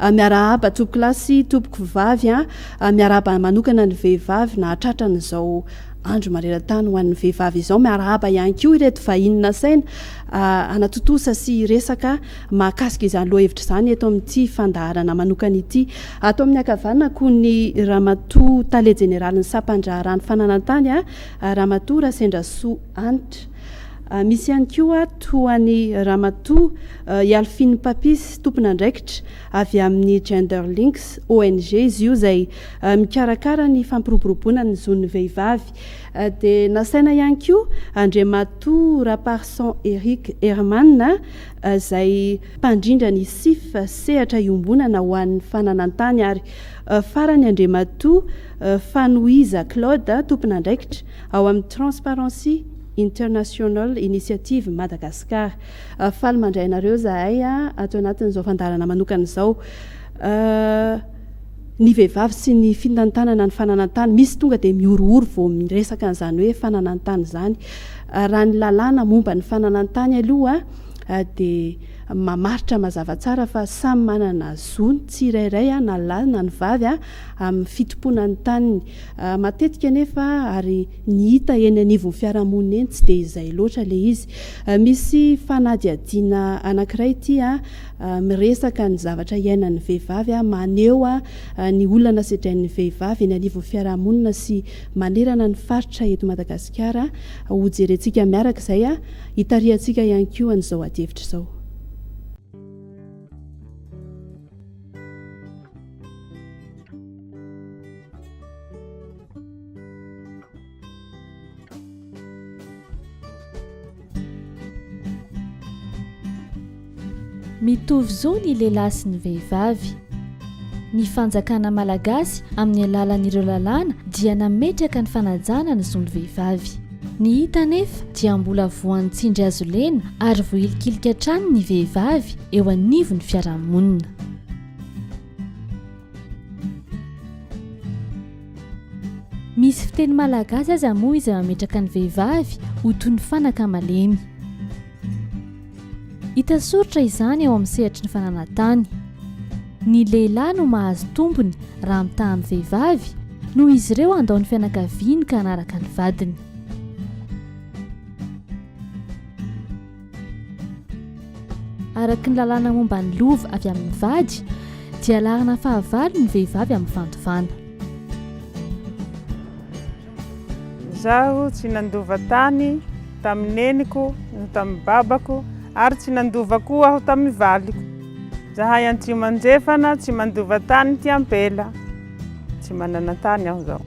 Miarahaba toby kilasy tompoko vavy a! Miarahaba manokana ny vehivavy nahatratra an'izao andro maneran-tany ho an'ny vehivavy izao. Miarahaba ihany koa ireto vahiny nasaina hanatontosa sy hiresaka mahakasika izany lohahevitra izany eto amin'ity fandaharana manokana ity. Ato amin'ny ankavanako ny Ramatoa Tale Jeneralin'ny Sampan-draharahany Fananantany, Ramatoa Rasendrasoa Hanitra. Misy ihany koa ato an'i Ramatoa. I Alphine Papis, tompon'andraikitra avy amin'ny Gender Links, ONG izy io izay mikarakara ny fampiroboroboana ny zon'ny vehivavy, dia nasaina ihany koa Andriamatoa Raparson Eric Herman izay mpandrindra ny Sif, sehatra iombonana ho an'ny fananantany, ary farany Andriamatoa Fanohiza Claude, tompon'andraikitra ao amin'ny Transparency International Initiative Madagascar. Faly mandray anareo zahay ato anatin'izao fandaharana manokana izao. Ny vehivavy sy ny fitantanana ny fananan-tany, misy tonga dia mihorohoro vao miresaka an'izany hoe fananan-tany izany. Raha ny lalàna momba ny fananan-tany aloha dia mamaritra mazava tsara fa samy manana zo ny tsirairay na lahy na ny vavy amin'ny fitompoana ny taniny. Matetika anefa ary Ny hita eny anivon'ny fiarahamonina eny tsy dia izay loatra ilay izy. Misy fanadihadiana anankiray ity miresaka ny zavatra iainan'ny vehivavy, maneho ny olana sedrain'ny vehivavy eny anivon'ny fiarahamonina sy manerana ny faritra eto Madagasikara. Hojerentsika miaraka izay, hitarihantsika ihany koa an'izao adihevitra izao. Mitovy zo ny lehilahy sy ny vehivavy. Ny fanjakana malagasy amin'ny alalan'ireo lalàna dia nametraka ny fanajana ny zon'ny vehivavy. Ny hita anefa dia mbola voan'ny tsindry hazo lena ary vohilikilika hatrany ny vehivavy eo anivon'ny fiarahamonina. Misy fiteny malagasy aza moa izay mametraka ny vehivavy ho toy ny fanaka malemy. Hita soritra izany eo amin'ny sehatry ny fananantany. Ny lehilahy no mahazo tombony raha mitaha amin'ny vehivavy noho izy ireo handao ny fianakaviany ka hanaraka ny vadiny. Araka ny lalàna momba ny lova avy amin'ny vady dia laharana fahavalo ny vehivavy amin'ny fandovana. Izaho tsy nandova tany tamin'ny neniko no tamin'ny babako ary tsy nandova koa aho tamin'ny valiko. Izahay antsimo andrefana tsy mandova tany ety ampela. Tsy manana tany aho izao.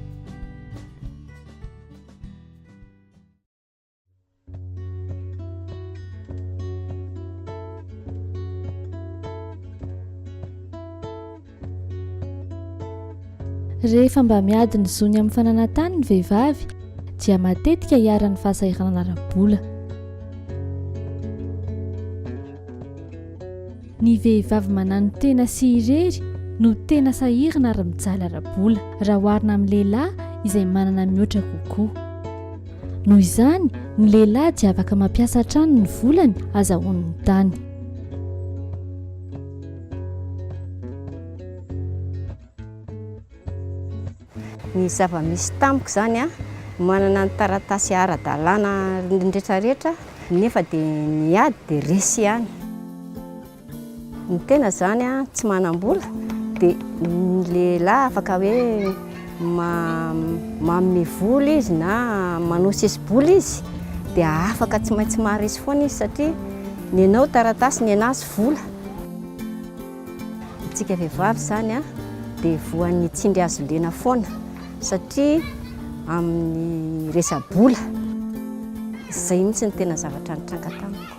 Rehefa mba miady ny zony amin'ny fananantany ny vehivavy dia matetika iharan'ny fahasahiranana ara-bola. Ny vehivavy mananotena sy irery no tena sahirana ary mijaly ara-bola, raha oharina amin'ny lehilahy izay manana mihoatra kokoa. Noho izany, ny lehilahy dia afaka mampiasa hatrany ny volany azahoany ny tany. Ny zava-misy tamiko izany an, manana ny taratasy ara-dalàna retraretra nefa dia ny ady dia resy ihany. Ny tena izany an, tsy manam-bola dia ny lehilahy afaka hoe manome vola izy na manao sesi-bola izy dia afaka tsy maintsy maharesy foana izy satria ny anao taratasy, ny anazy vola. Isika vehivavy izany dia voan'ny tsindry hazondena foana satria amin'ny resa-bola. Izay mihitsy no tena zavatra nitranga tamiko.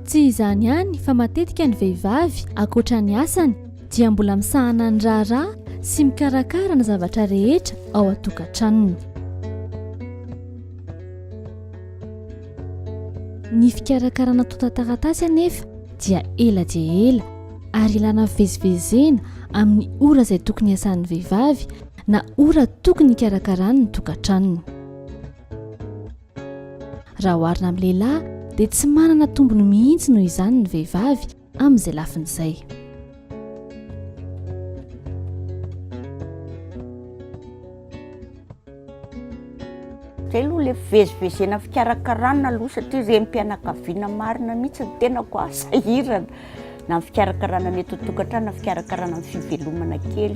Tsy izany ihany fa matetika ny vehivavy ankoatra ny asany dia mbola misahana ny raharaha sy mikarakara ny zavatra rehetra ao an-tokantranony. Ny fikarakarana tontan-taratasy anefa dia ela dia ela. ary ilana fivezivezena amin'ny ora izay tokony hiasan'ny vehivavy na ora tokony hikarakarany ny tokantranony raha oharina amin'ny lehilahy dia tsy manana tombony mihitsy noho izany ny vehivavy amin'izay lafiny izay Zay aloha le fivezivezena fikarakarana aloha satria renim-pianakaviana marina mihitsy ny tenako a, sahirana na ny fikarakarana ny eto an-tokantrano na fikarakarana ny fivelomana kely.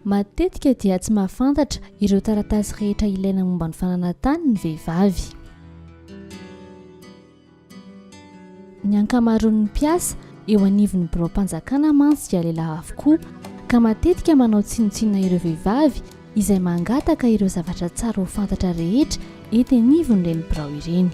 Matetika dia tsy mahafantatra ireo taratasy rehetra ilaina momba ny fananan-tany ny vehivavy. Ny ankamaroan'ny mpiasa eo anivon'ny biraom-panjakana mantsy dia lehilahy avokoa, ka matetika manao tsinontsinona ireo vehivavy izay mangataka ireo zavatra tsara ho fantatra rehetra ety anivon'ireny birao ireny.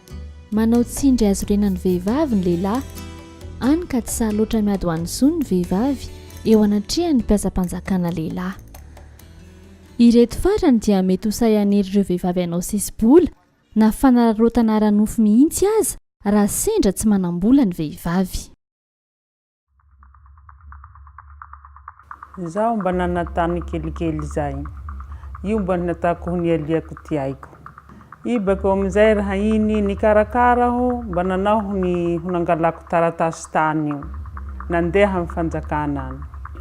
Manao tsindry azo renan'ny vehivavy ny lehilahy, hany ka tsy sahy loatra miady ho an'ny zony ny vehivavy eo anatrehan'ny mpiasam-panjakana lehilahy. Ireto farany dia mety ho sahy hanery ireo vehivavy hanao sesi-bola na fanararaotana ara-nofo mihitsy aza raha sendra tsy manam-bola ny vehivavy. Izaho mba nanantany kelikely izay. Io mba ny nataoko ho nialiako ty aiko. Ibako amin'izay raha iny nikarakara aho mba nanao ny ho nangalako taratasy tany io. Nandeha amin'ny fanjakana any.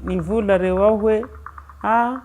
Nivola reo aho hoe, ah,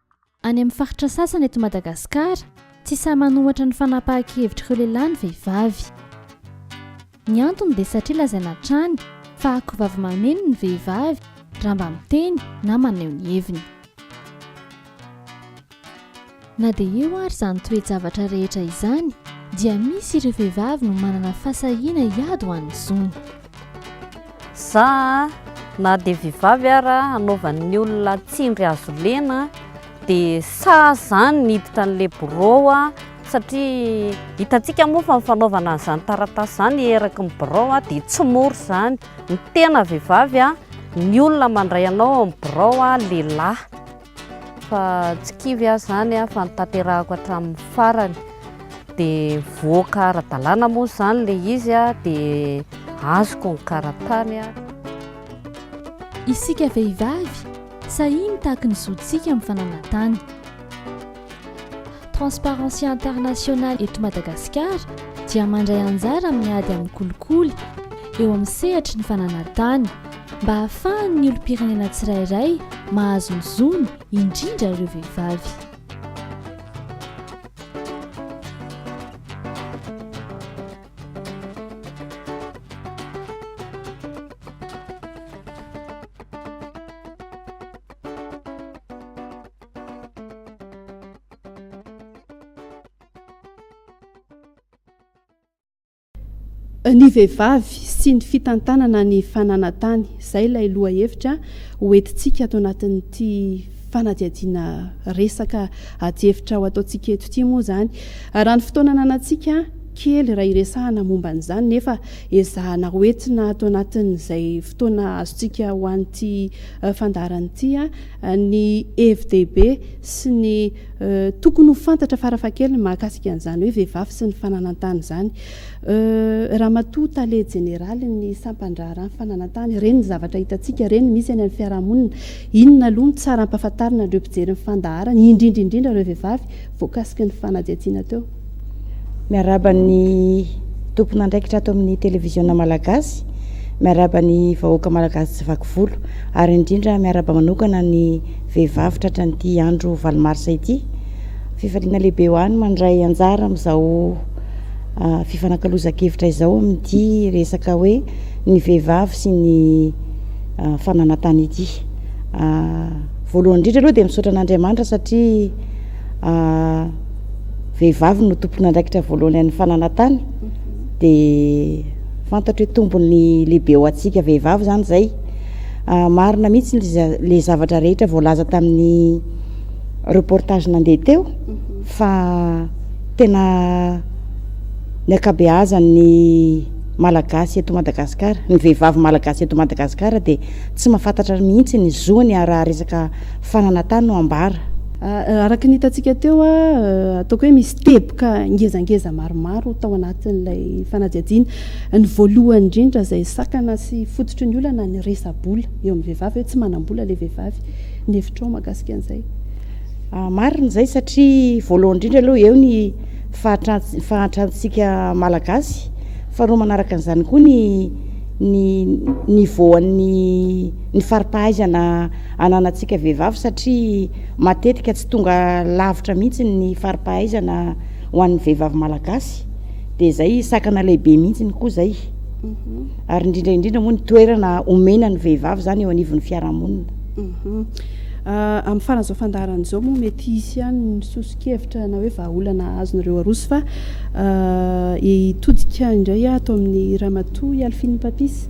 Any amin'ny faritra sasany eto Madagasikara, tsy sahy manohatra ny fanapahan-kevitr'ireo lehilahy ny vehivavy. Ny antony dia satria lazaina hatrany fa akovavy mameno ny vehivavy raha mba miteny na maneho ny heviny. Na dia eo ary izany toe-javatra rehetra izany dia misy ireo vehivavy no manana fahasahiana hiady ho an'ny zony. Za na dia vivavy ara anaovan'ny olona tsindry azo lena dia sa zany niditra an'le birao aho satria hitantsika moa fa ny fanaovana an'izany taratasy izany eraky ny birao aho dia tsy mora izany. Ny tena vehivavy a, ny olona mandray anao amin'ny birao a, lehilahy. Fa tsy kivy aho izany fa notanterahako hatramin'ny farany. Dia voaka ara-dalàna moa izany ilay izy dia azoko ny karatany. Isika vehivavy, sahia mitaky ny zontsika amin'ny fananantany. Transparency International eto Madagasikara dia mandray anjara amin'ny ady amin'ny kolikoly eo amin'ny sehatry ny fananantany mba hahafahan'ny olom-pirenena tsirairay mahazo ny zony indrindra ireo vehivavy. ny vehivavy sy ny fitantanana ny fananantany izay ilay lohahevitra hoentintsika ato anatin'ity fanadihadiana resaka adihevitra ho ataontsika eto ity moa izany raha ny fotoana nanantsika kely raha iresahana momba an'izany nefa ezahana hoentina ato anatin'izay fotoana azontsika ho an'ity fandaharan'ity ny hevi-dehibe sy ny tokony ho fantatra farafahakeliny mahakasika an'izany hoe vehivavy sy ny fananan-tany izany. Ramatoa Tale Jeneraly ny sampan-draharahan'ny fananan-tany, ireny ny zavatra hitantsika, ireny ny misy any amin'ny fiarahamonina. Inona aloha no tsara hampahafantarina an'ireo mpijery ny fandaharana, indrindra indrindra ireo vehivavy, voakasiky ny fanadihadiana teo? Miarahaba ny tompon'andraikitra ato amin'ny televiziona malagasy, miarahaba ny vahoaka malagasy tsy vaky volo, ary indrindra miarahaba manokana ny vehivavy tratra an'ity andro valo marsa ity. Fifaliana lehibe ho ahy ny mandray anjara amin'izao ah, fifanakalozan-kevitra izao amin'ity resaka hoe ny vehivavy sy ny ah, fananantany ity. Ah, voalohany indrindra aloha dia misaotra an'Andriamanitra satria ah, vehivavy no tompon'andraikitra voalohany an'ny fananantany dia fantatro hoe tombony lehibe ho antsika vehivavy zany zay ah, marina mihitsy le zavatra rehetra voalaza tamin'ny reportage nandeha teo mhm. fa tena ny akabeazan'ny malagasy eto madagasikara ny vehivavy malagasy eto madagasikara dia tsy mahafantatra mihitsy ny zoany araha resaka fa nanatany no ambara. Araka ny hitantsika teo, ataoko hoe misy teboka ngezangeza maromaro tao anatin'ilay fanadihadiana. Ny voalohany indrindra izay sakana sy fototry ny olana ny resa-bola eo amin'ny vehivavy hoe tsy manam-bola ilay vehivavy. Ny hevitrao mahakasika an'izay? Marina izay satria voalohany indrindra aloha eo ny fahantrantsika malagasy, faharoa manaraka an'izany koa ny ny niveau an'ny ny fari-pahaizana ananantsika vehivavy satria matetika tsy tonga lavitra mihitsy ny faripahaizana ho an'ny vehivavy malagasy dia zay sakana lehibe mihitsy ny koa zay mhm. ary indrindra indrindra moa ny toerana omena ny vehivavy zany eo anivon'ny fiarahamonina mhm. ah, amin'ny faran'izao fandaharana izao moa mety hisy ihany ny sosokevitra na hoe vahaolana azonareo arosy fa ah, hitodika indray atao amin'ny ramatoa hialfin'ny papis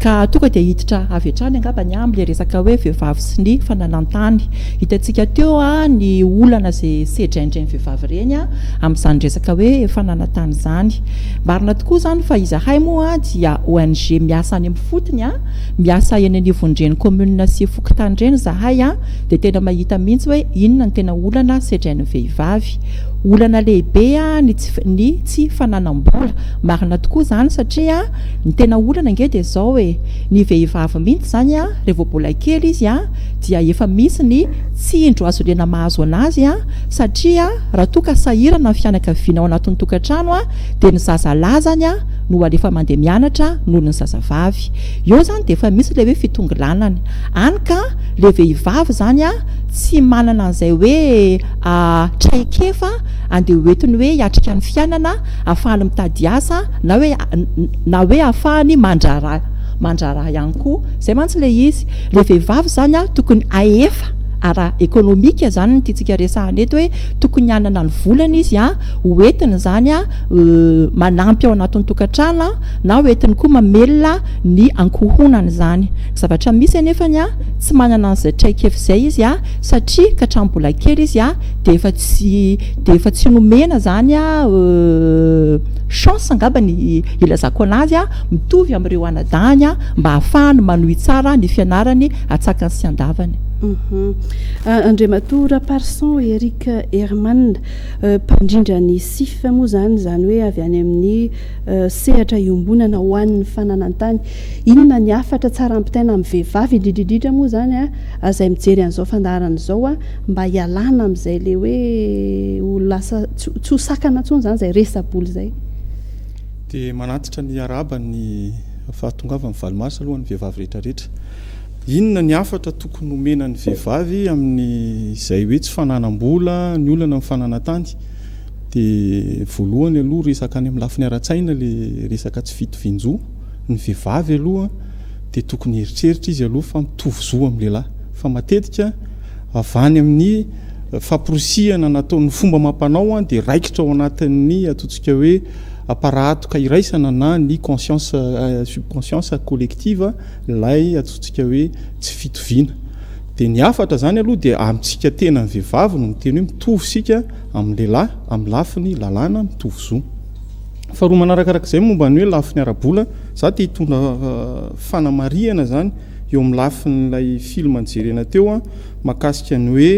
Ka tonga dia hiditra avy hatrany angamba ny amin'ny ilay resaka hoe vehivavy sy ny fananan-tany. Hitantsika teo ny olana izay sedrain'ireny vehivavy ireny amin'izany resaka hoe fananan-tany izany. Marina tokoa izany fa izahay moa dia ONG miasa any amin'ny fotony, miasa eny anivon'ireny kaominina sy fokontany ireny izahay dia tena mahita mihitsy hoe inona no tena olana sedrain'ny vehivavy. Olana lehibe ny tsy fananam-bola, marina tokoa izany satria. Ny tena olana ange dia izao e, ny vehivavy mihitsy izany an, raha vao mbola kely izy an, dia efa misy ny tsindro azo liana mahazo anazy an, satria raha toa ka sahirana ny fianakaviana ao anatin'ny tokantrano an, dia ny zaza lahy izany an no alefa mandeha mianatra noho ny zazavavy. Eo izany dia efa misy ilay hoe fitongilanana. Any ka, ilay vehivavy izany an, tsy manana an'izay hoe traikefa andeha hoentiny hoe hiatrika ny fiainana, ahafahany mitady asa, Na hoe na hoe hahafahany mandraharaha mandraharaha ihany koa. Izay mantsy ilay izy. Ilay vehivavy izany an, tokony hahefa ara ekonomika izany ny tiantsika resahana eto hoe tokony hanana ny volany izy an, ho entiny izany an manampy ao anatin'ny tokantrano an, na ho entiny koa mamelona ny ankohonany izany. Ny zavatra misy anefany an, tsy manana an'izay traikefa izay izy an, satria ka hatramin'ny mbola kely izy an, dia efa tsy dia efa tsy nomena izany an, Chance angamba ny hilazako anazy a, mitovy amin'ireo anadahiny a, mba hahafahany manohy tsara ny fianarany atsakany sy andavany. Andriamatoa Raparson Eric Herman, mpandrindra ny CIF moa izany, izany hoe avy any amin'ny sehatra iombonana ho an'ny fananantany. Inona ny hafatra tsara ampitaina amin'ny vehivavy, indrindra indrindra moa izany izay mijery an'izao fandaharana izao, mba hialana amin'izay ilay hoe ho lasa Tsy tsy ho sakana intsony izany izay resa-bola izay. Dia manantitra ny arahaba ny fahatongavan'ny valimaso aloha ny vehivavy rehetrarehetra. Inona ny hafatra tokony homena ny vehivavy amin'izay hoe tsy fananam-bola, ny olana amin'ny fananan-tany? Dia voalohany aloha resaka any amin'ny lafiny ara-tsaina ilay resaka tsy fitovian-jo. ny vehivavy aloha dia tokony hieritreritra izy aloha fa mitovy zo amin'ny lehilahy fa matetika avy any amin'ny famporisihana nataon'ny fomba amam-panao dia raikitra ao anatin'ny ataontsika hoe aparahatoka iraisana na ny conscience subconscience collective ilay ataontsika hoe tsy fitoviana dia ny hafatra izany aloha dia amintsika tena ny vehivavy no miteny hoe mitovy isika amin'ny lehilahy amin'ny lafiny lalàna mitovy zo. Faharoa manarakarak'izay momba ny hoe lafiny ara-bola, za te hitondra eh, fanamarihana zany eo amin'ny lafin'ilay film nijerena teo an, makasika ny hoe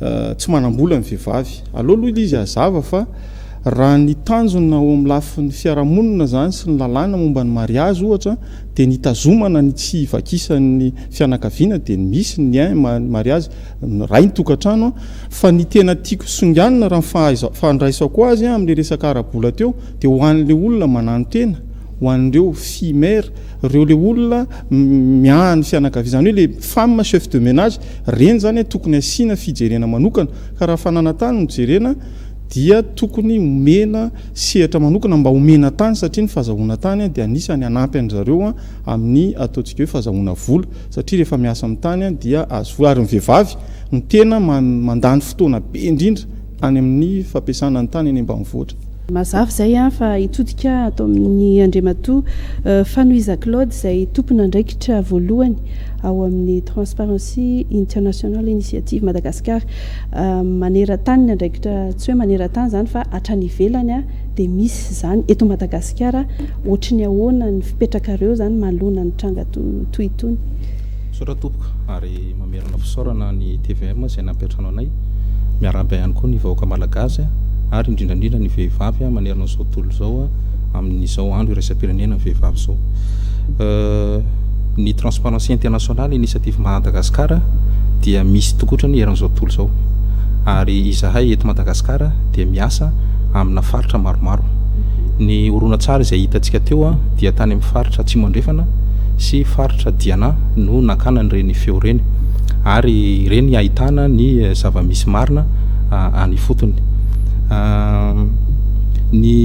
eh, tsy manam-bola ny vehivavy. Aleo aloha ilay izy hazava fa raha ny tanjona ao amin'ny lafin'ny fiarahamonina zany sy ny lalàna momba ny mariazy ohatra dia ny hitazomana ny tsy hivakisan'ny fianakaviana dia misy ny eh, ny mariazy. ny rain-tokantrano, fa ny tena tiako songanina raha ny fandraisako azy amin'ilay resaka ara-bola teo dia ho an'ilay olona manano-tena, ho an'ireo filles mères, ireo ilay olona miahy ny fianakaviana, izany hoe ilay femme chef de ménage, ireny izany tokony asiana fijerena manokana, ka raha fananantany no jerena dia tokony omena sehatra manokana mba omena tany satria ny fazahoana tany dia anisany hanampy an-dry zareo amin'ny ataontsika hoe fazahoana vola. satria rehefa miasa amin'ny tany dia azo vola ary ny vehivavy no tena mandany fotoana be indrindra any amin'ny fampiasana ny tany any ambanivohitra. Mazava izay fa hitodika ato amin'ny Andriamatoa Fanohiza Claude izay tompon'andraikitra voalohany ao amin'ny Transparency International Initiative Madagascar maneran-tany ny andraikitra, tsy hoe maneran-tany izany fa hatrany ivelany. Dia misy izany eto Madagasikara ohatry ny ahoana ny fipetrakareo izany manoloana ny tranga toy itony? Misaotra tompoko ary mamerina fisaorana ny tvm izay nampiantrano anay, miarahaba ihany koa ny vahoaka malagasy ary indrindra indrindra ny vehivavy manerana izao tontolo izao amin'izao andro iraisam-pirenena ny vehivavy izao. Ny Transparency International Initiative Madagascar dia misy tokoa otrany eran'izao tontolo izao ary izahay eto Madagasikara dia miasa amina faritra maromaro. Ny horonantsary izay hitantsika teo dia tany amin'ny faritra Atsimo Andrefana sy faritra Diana no nakana an'ireny feo ireny ary ireny ahitana ny zava-misy marina any ifotony. Ny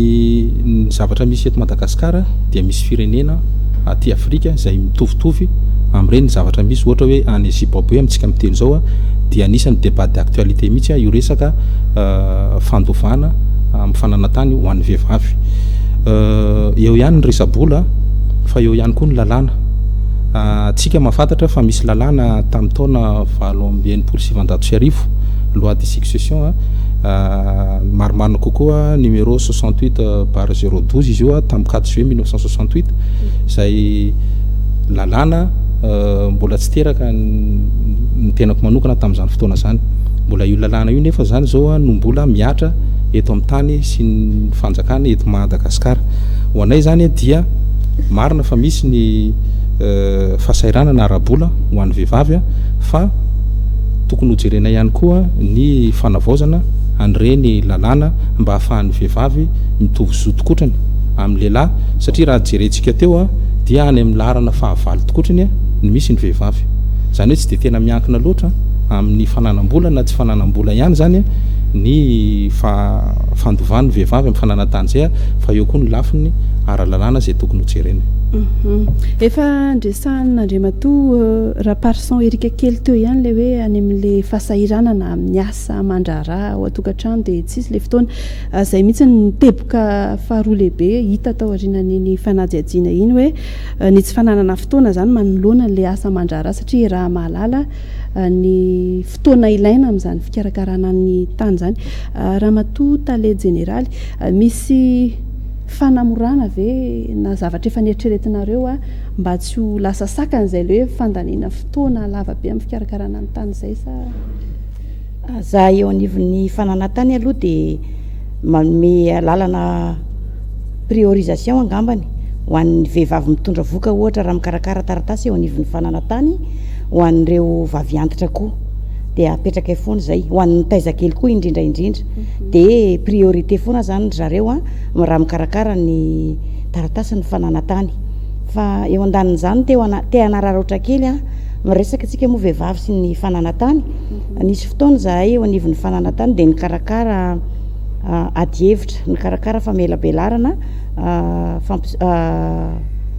ny zavatra misy eto Madagasikara dia misy firenena aty Afrika izay mitovitovy amin'ireny zavatra misy ohatra hoe any Zimbabwe amintsika miteny izao dia anisan'ny débat d'actualité mihitsy io resaka fandovana amin'ny fananantany ho an'ny vehivavy. Eo ihany ny resa-bola fa eo ihany koa ny lalàna. Tsika mahafantatra fa misy lalàna tamin'ny taona valo amby enimpolo sy sivanjato sy arivo, loi de succession, marimarina kokoa numéro 68 bar 012 izy io tamin'ny 4 juillet 1968 izay lalàna mbola tsy teraka ny tenako manokana tamin'izany fotoana izany. Mbola io lalàna io nefa izany izao no mbola mihatra eto amin'ny tany sy ny fanjakana eto Madagasikara. Ho anay izany dia marina fa misy ny eh, fahasahiranana ara-bola ho an'ny vehivavy fa tokony hojerenay ihany koa ny fanavaozana an'ireny lalàna mba hahafahan'ny vehivavy mitovy zo tokotrany amin'ny lehilahy satria raha jerentsika teo dia any amin'ny laharana fahavalo tokotrany ny misy ny vehivavy. Izany hoe tsy dia tena miankina loatra amin'ny fananam-bola na tsy fananam-bola ihany izany ny fandovan'ny vehivavy amin'ny fananantanjea fa eo koa ny lafiny ara-lalàna izay tokony ho jerena. Mhm. Efa andresahan'Andriamatoa euh, Raparison Erika kely teo ihany ilay hoe any amin'ilay fahasahiranana amin'ny asa aman-draharaha ao an-tokantrano dia tsisy ilay fotoana. Ah, izay mihitsy ny teboka faharoa lehibe hita tao aorianan'iny fanadihadiana iny hoe euh, ny tsy fananana fotoana izany manoloana an'ilay asa aman-draharaha satria raha mahalala ny fotoana ilaina amin'izany fikarakarana ny tany izany. Ramatoa Tale Jeneraly, misy fanamorana ve na zavatra efa neritreretinareo mba tsy ho lasa sakana izay ilay hoe fandaniana fotoana lava be amin'ny fikarakarana ny tany izay sa? Aza eo anivon'ny fananantany aloha dia manome alalana priorisation angambany ho an'ny vehivavy mitondra voka ohatra raha mikarakara taratasy eo anivon'ny fananantany ho an'ireo vaviantitra koa dia apetraka eo foana izay ho an'ny taizakely koa indrindra indrindra mhm. dia priorité foana zany ry zareo a raha mikarakara ny taratasy ny fananantany fa eo andanin'izany te hanararaotra kely a miresaka antsika moa vehivavy sy ny fananantany Nisy fotoana izahay eo anivon'ny fananantany dia nikarakara adihevitra, nikarakara famelabelarana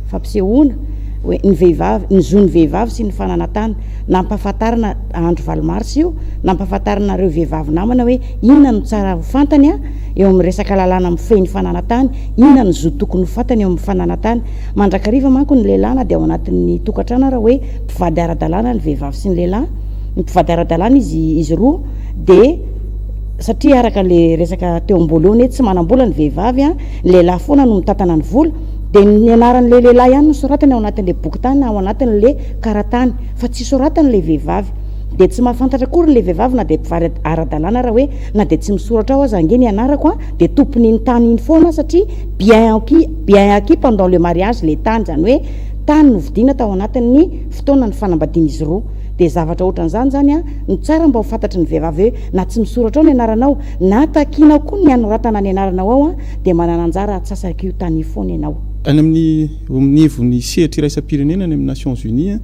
fampisehoana hoe ny vehivavy, ny zon'ny vehivavy sy ny fananantany. Nampahafantarina andro valo marsa io, nampahafantarina ireo vehivavy namana hoe inona no tsara ho fantany eo amin'ny resaka lalàna mifehy ny fananantany, inona ny zo tokony ho fantany eo amin'ny fananantany. Mandrakariva manko ny lehilahy na dia ao anatin'ny tokantrano ary hoe mpivady ara-dalàna ny vehivavy sy ny lehilahy. ny mpivady ara-dalàna izy izy roa de satria araka le resaka teo amboalohany hoe tsy manam-bola ny vehivavy a ny lehilahy foana no mitatana ny vola de ny anaran'le lehilahy ihany no soratany ao anatin'le boky tany ao anatin'le karatany fa tsy soratany le vehivavy de tsy mahafantatra akory ny le vehivavy na de mpivady ara-dalàna raha hoe na de tsy misoratra ao aza ange ny anarako a de tompon'iny tany iny foana satria bien acquis bien acquis pendant le mariage le tany zany hoe tany novidiana tao anatin'ny fotoana ny fanambadian'izy roa dia zavatra ohatran'izany izany an, no tsara mba ho fantatry ny vehivavy hoe na tsy misoratra ao ny anaranao na takianao koa ny hanoratana ny anaranao ao an, dia manana anjara atsasak'io tany io foana ianao. Any amin'ny eo amin'ny ivon'ny sehatra iraisam-pirenena any amin'ny Nations Unies an,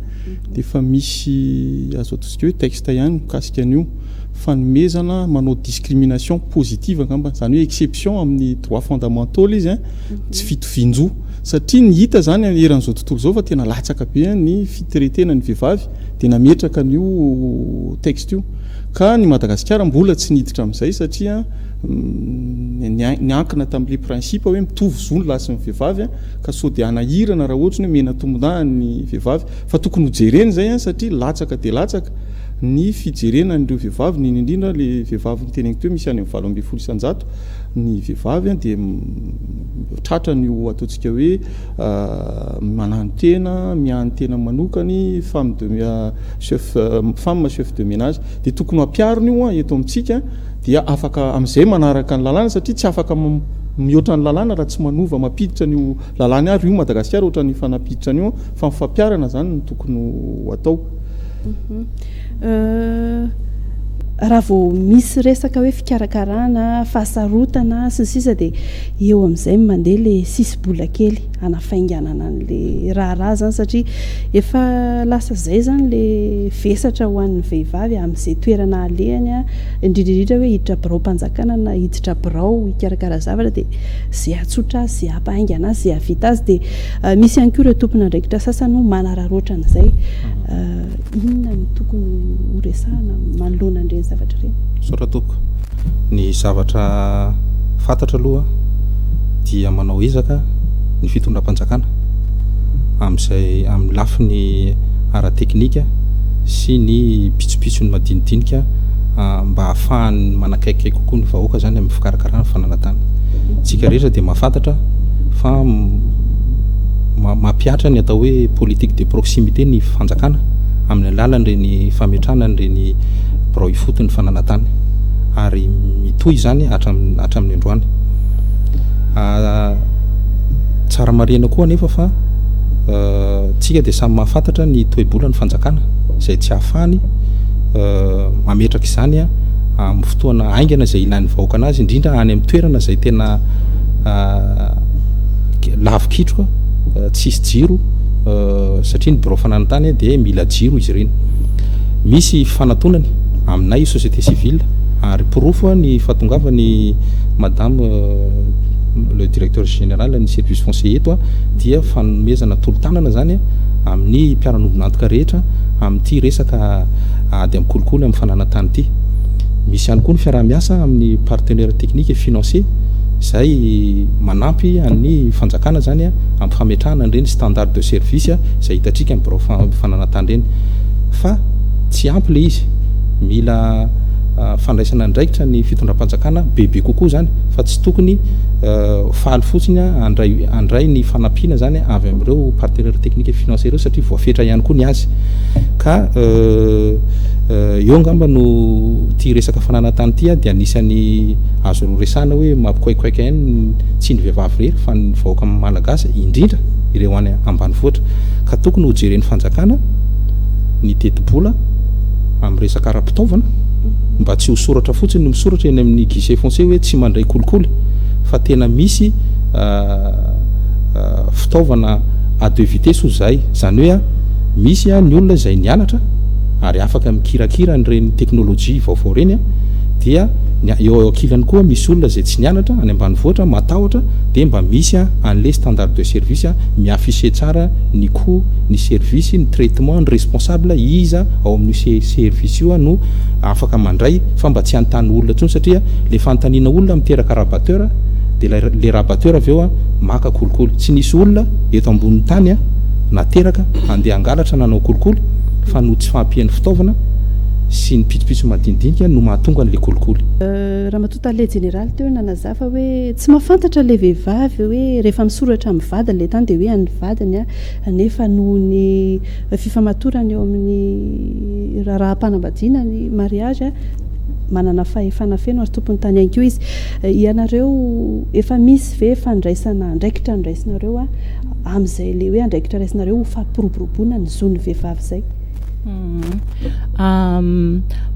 dia efa misy azo ataontsika hoe texte ihany mikasika an'io, fanomezana manao discrimination positive angamba, izany hoe exception amin'ny droits fondamentaux ilay izy an, tsy fitovian-jo. Satria ny hita izany eran'izao tontolo izao fa tena latsaka be ny fiteretena ny vehivavy dia nametraka an'io texte io. Ka ny Madagasikara mbola tsy niditra amin'izay satria niankina tamin'ilay principe hoe mitovy zo ny lahy sy ny vehivavy ka sao dia hanahirana raha ohatra ny hoe mena tombondahiny ny vehivavy. Fa tokony ho jerena izay satria latsaka dia latsaka ny fijerena an'ireo vehivavy indrindra indrindra ilay vehivavy noteneniko teo misy any amin'ny valo ambin'ny folo isan-jato. Ny vehivavy dia tratra ny ho ataontsika hoe manano-tena, mihaino tena manokany, femme de chef, femme chef de menage. Dia tokony ho ampiharina io eto amintsika dia afaka amin'izay manaraka ny lalàna satria tsy afaka mihoatra ny lalàna raha tsy manova mampiditra an'io lalàna ary io Madagasikara ohatran'ny efa nampiditra an'io fa ny fampiharana izany no tokony ho atao. Raha vao misy resaka hoe fikarakarana, fahasarotana sy ny sisa dia eo amin'izay mandeha ilay sisi-bola kely hanafainganana an'ilay raharaha izany satria efa lasa izay izany ilay vesatra ho an'ny vehivavy amin'izay toerana alehany, indrindra indrindra hoe hiditra biraom-panjakana na hiditra birao hikarakara zavatra dia izay hahatsotra azy, izay hampahaingana azy, izay hahavita azy. Dia misy ihany koa ireo tompon'andraikitra sasany manararaotra an'izay. inona no tokony ho resahana manoloana an'ireny zavatra ireny? Misaotra tompoko. Ny zavatra fantatra aloha dia manao ezaka ny fitondram-panjakana amin'izay amin'ny lafiny ara-teknika sy ny pitsopitsony madinidinika ah, mba hahafahany manakaiky kokoa ny vahoaka izany amin'ny fikarakarana ny fananantany. Tsika rehetra dia mahafantatra fa mampihatra ny atao hoe politique de proximité ny fanjakana amin'ny alalan'ireny fametrahana an'ireny birao ifotony fananantany ary mitohy izany hatramin'ny androany. Ah, tsara marihina koa anefa fa ah, tsika dia samy mahafantatra ny toebola ny fanjakana izay tsy ahafahany ah, mametraka izany ah, amin'ny fotoana haingana izay ilain'ny vahoaka anazy indrindra any amin'ny toerana izay tena ah, lavikitroka, ah, tsisy jiro, satria ny birao fananantany dia mila jiro izy ireny. Misy fifanatonany aminay io société civile ary porofo ny fahatongavany madame le directeur général ny service foncier eto dia fanomezana tolo-tanana zany amin'ny mpiara-nobon'antoka rehetra amin'ity resaka ady amin'ny kolikoly amin'ny fananantany ity. Misy ihany koa ny fiaraha-miasa amin'ny partenaire technique et financier izay manampy an'ny fanjakana zany hampifametrahana an'ireny standard de service izay hitantsika ny birao fananantany ireny fa tsy ampy ilay izy mila fandraisana andraikitra ny fitondram-panjakana bebe kokoa izany fa tsy tokony faly fotsiny andray andray ny fanampiana izany avy amin'ireo partenaire technique financier ireo satria voafetra ihany koa ny azy ka eo angamba no tia resaka fananantany ity dia anisan'ny azo resana hoe mampikoaikoaika ihany tsy ny vehivavy irery fa ny vahoaka malagasy indrindra ireo any ambanivohitra ka tokony ho jeren'ny fanjakana ny tetibola amin'ny resaka ara-pitaovana mba tsy ho soratra fotsiny no misoratra eny amin'ny guichet foncier hoe tsy mandray kolikoly fa tena misy euh, euh, fitaovana à deux vitesses ho zay zany hoe a misy a ny olona izay nianatra ary afaka mikirakira an'ireny teknolojia vaovao ireny a dia ny eo eo ankilany koa misy olona izay tsy nianatra any ambanivoatra matahotra dia mba misy anle standard de service mi afficher tsara ny cout ny service ny traitement ny responsable iza ao amin'io se service io no afaka mandray fa mba tsy hanontany olona tsony satria le fanontaniana olona miteraka rabatteur dia lay le rabatteur avy eo maka kolikoly tsy nisy olona eto ambonin'ny tany nateraka handeha hangalatra na hanao kolikoly fa noho tsy fahampian'ny fitaovana sy ny pitsopitso madinidinika no mahatonga an'ilay kolikoly. Ramatoa Tale Jeneraly teo nanazava fa hoe tsy mahafantatra ilay vehivavy hoe rehefa misoratra amin'ny vadiny ilay tany dia hoe an'ny vadiny nefa noho ny fifamatorana eo amin'ny raharaham-panambadiana ny mariazy manana fahefana feno ary tompon'ny tany ihany koa izy. Ianareo efa misy ve fandraisana andraikitra noraisinareo amin'izay ilay hoe andraikitra raisinareo ho fampiroboroboana ny zon'ny vehivavy izay?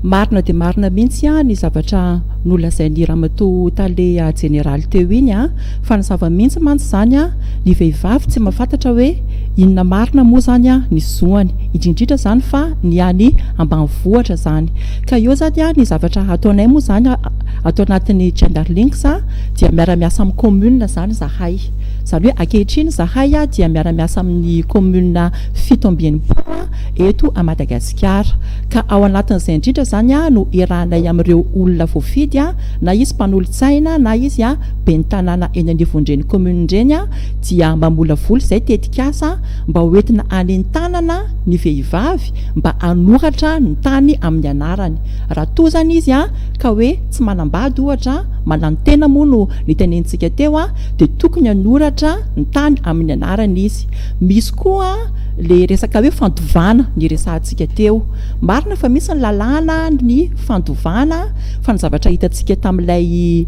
Marina dia marina mihitsy ny zavatra nolazain'ny ramatoa tale jeneraly teo iny an, fa ny zava-mihitsy mantsy izany an, ny vehivavy tsy mahafantatra hoe inona marina moa izany ny zoany, indrindrindra izany fa ny any ambanivohitra izany. Ka eo izany an, ny zavatra hataonay moa izany ato anatin'ny Gender Links dia miara-miasa amin'ny commune izany izahay. Izany hoe ankehitriny izahay dia miara-miasa amin'ny commune. fito amby enimpolo eto Madagasikara ka ao anatin'izay indrindra izany no iarahanay amin'ireo olona voafidy na izy mpanolotsaina na izy ben'ny tanàna eny anivon'ireny commune ireny dia mamolavola izay tetikasa mba ho entina hanentanana ny vehivavy mba hanoratra ny tany amin'ny anarany raha toa izany izy ka hoe tsy manambady ohatra mananontena moa no nitenentsika teo dia tokony hanoratra ny tany amin'ny anarany izy Misy koa ilay resaka hoe fandovana niresahantsika teo. Marina fa misy ny lalàna ny fandovana fa ny zavatra hitantsika tamin'ilay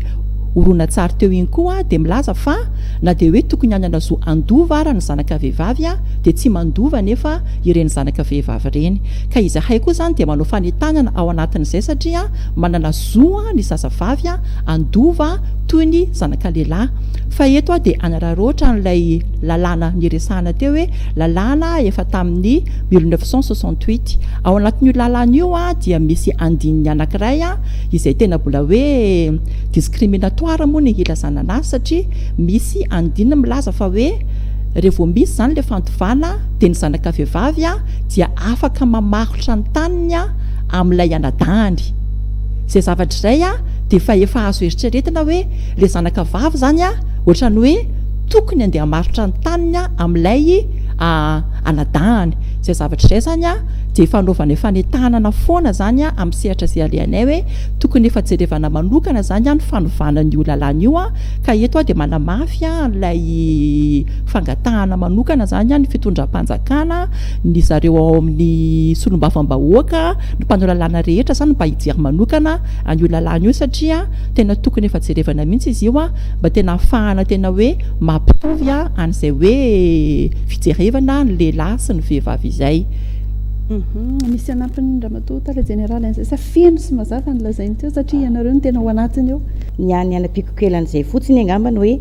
horonantsary teo iny koa dia milaza fa na dia hoe tokony hanana zo handova ara ny zanaka vehivavy dia tsy mandova anefa ireny zanaka vehivavy ireny. Ka izahay koa izany dia manao fanentanana ao anatin'izay satria manana zo ny zazavavy handova toy ny zanaka lehilahy. Fa eto aho dia hanararaotra an'ilay lalàna niresahana teo hoe lalàna efa tamin'ny mille neuf cent soixante-huit. Ao anatin'io lalàna io dia misy andininy anankiray izay tena mbola hoe discriminatoire moa ny hilazana anazy satria misy andininy milaza fa hoe raha vao misy izany ilay fandovana dia ny zanaka vehivavy dia afaka mamarotra ny taniny amin'ilay anadahany. Izay zavatra izay dia efa efa azo eritreretina hoe ilay zanaka vavy izany ohatran'ny hoe Tokony andeha hamarotra ny taniny aho amin'ilay anadahany. Izay zavatra izay izany dia efa anaovanay fanentanana foana izany amin'ny sehatra izay alehanay hoe tokony efa jerevana manokana izany ny fanovana an'io lalàna io ka eto aho dia manamafy an'ilay fangatahana manokana izany ny fitondram-panjakana, ny zareo ao amin'ny solombavambahoaka, ny mpanao lalàna rehetra izany mba hijery manokana an'io lalàna io satria tena tokony efa jerevana mihitsy izy io. mba tena hahafahana tena hoe mampitovy an'izay hoe fijerevana ny lehilahy sy ny vehivavy izay. Mhm. Misy anampiny Ramatoa Tale Jeneraly an'izay sa feno sy mazava ny lazainy teo satria ianareo no tena ao anatiny ao? Ny ahy ny hanampiako kely an'izay fotsiny angambany hoe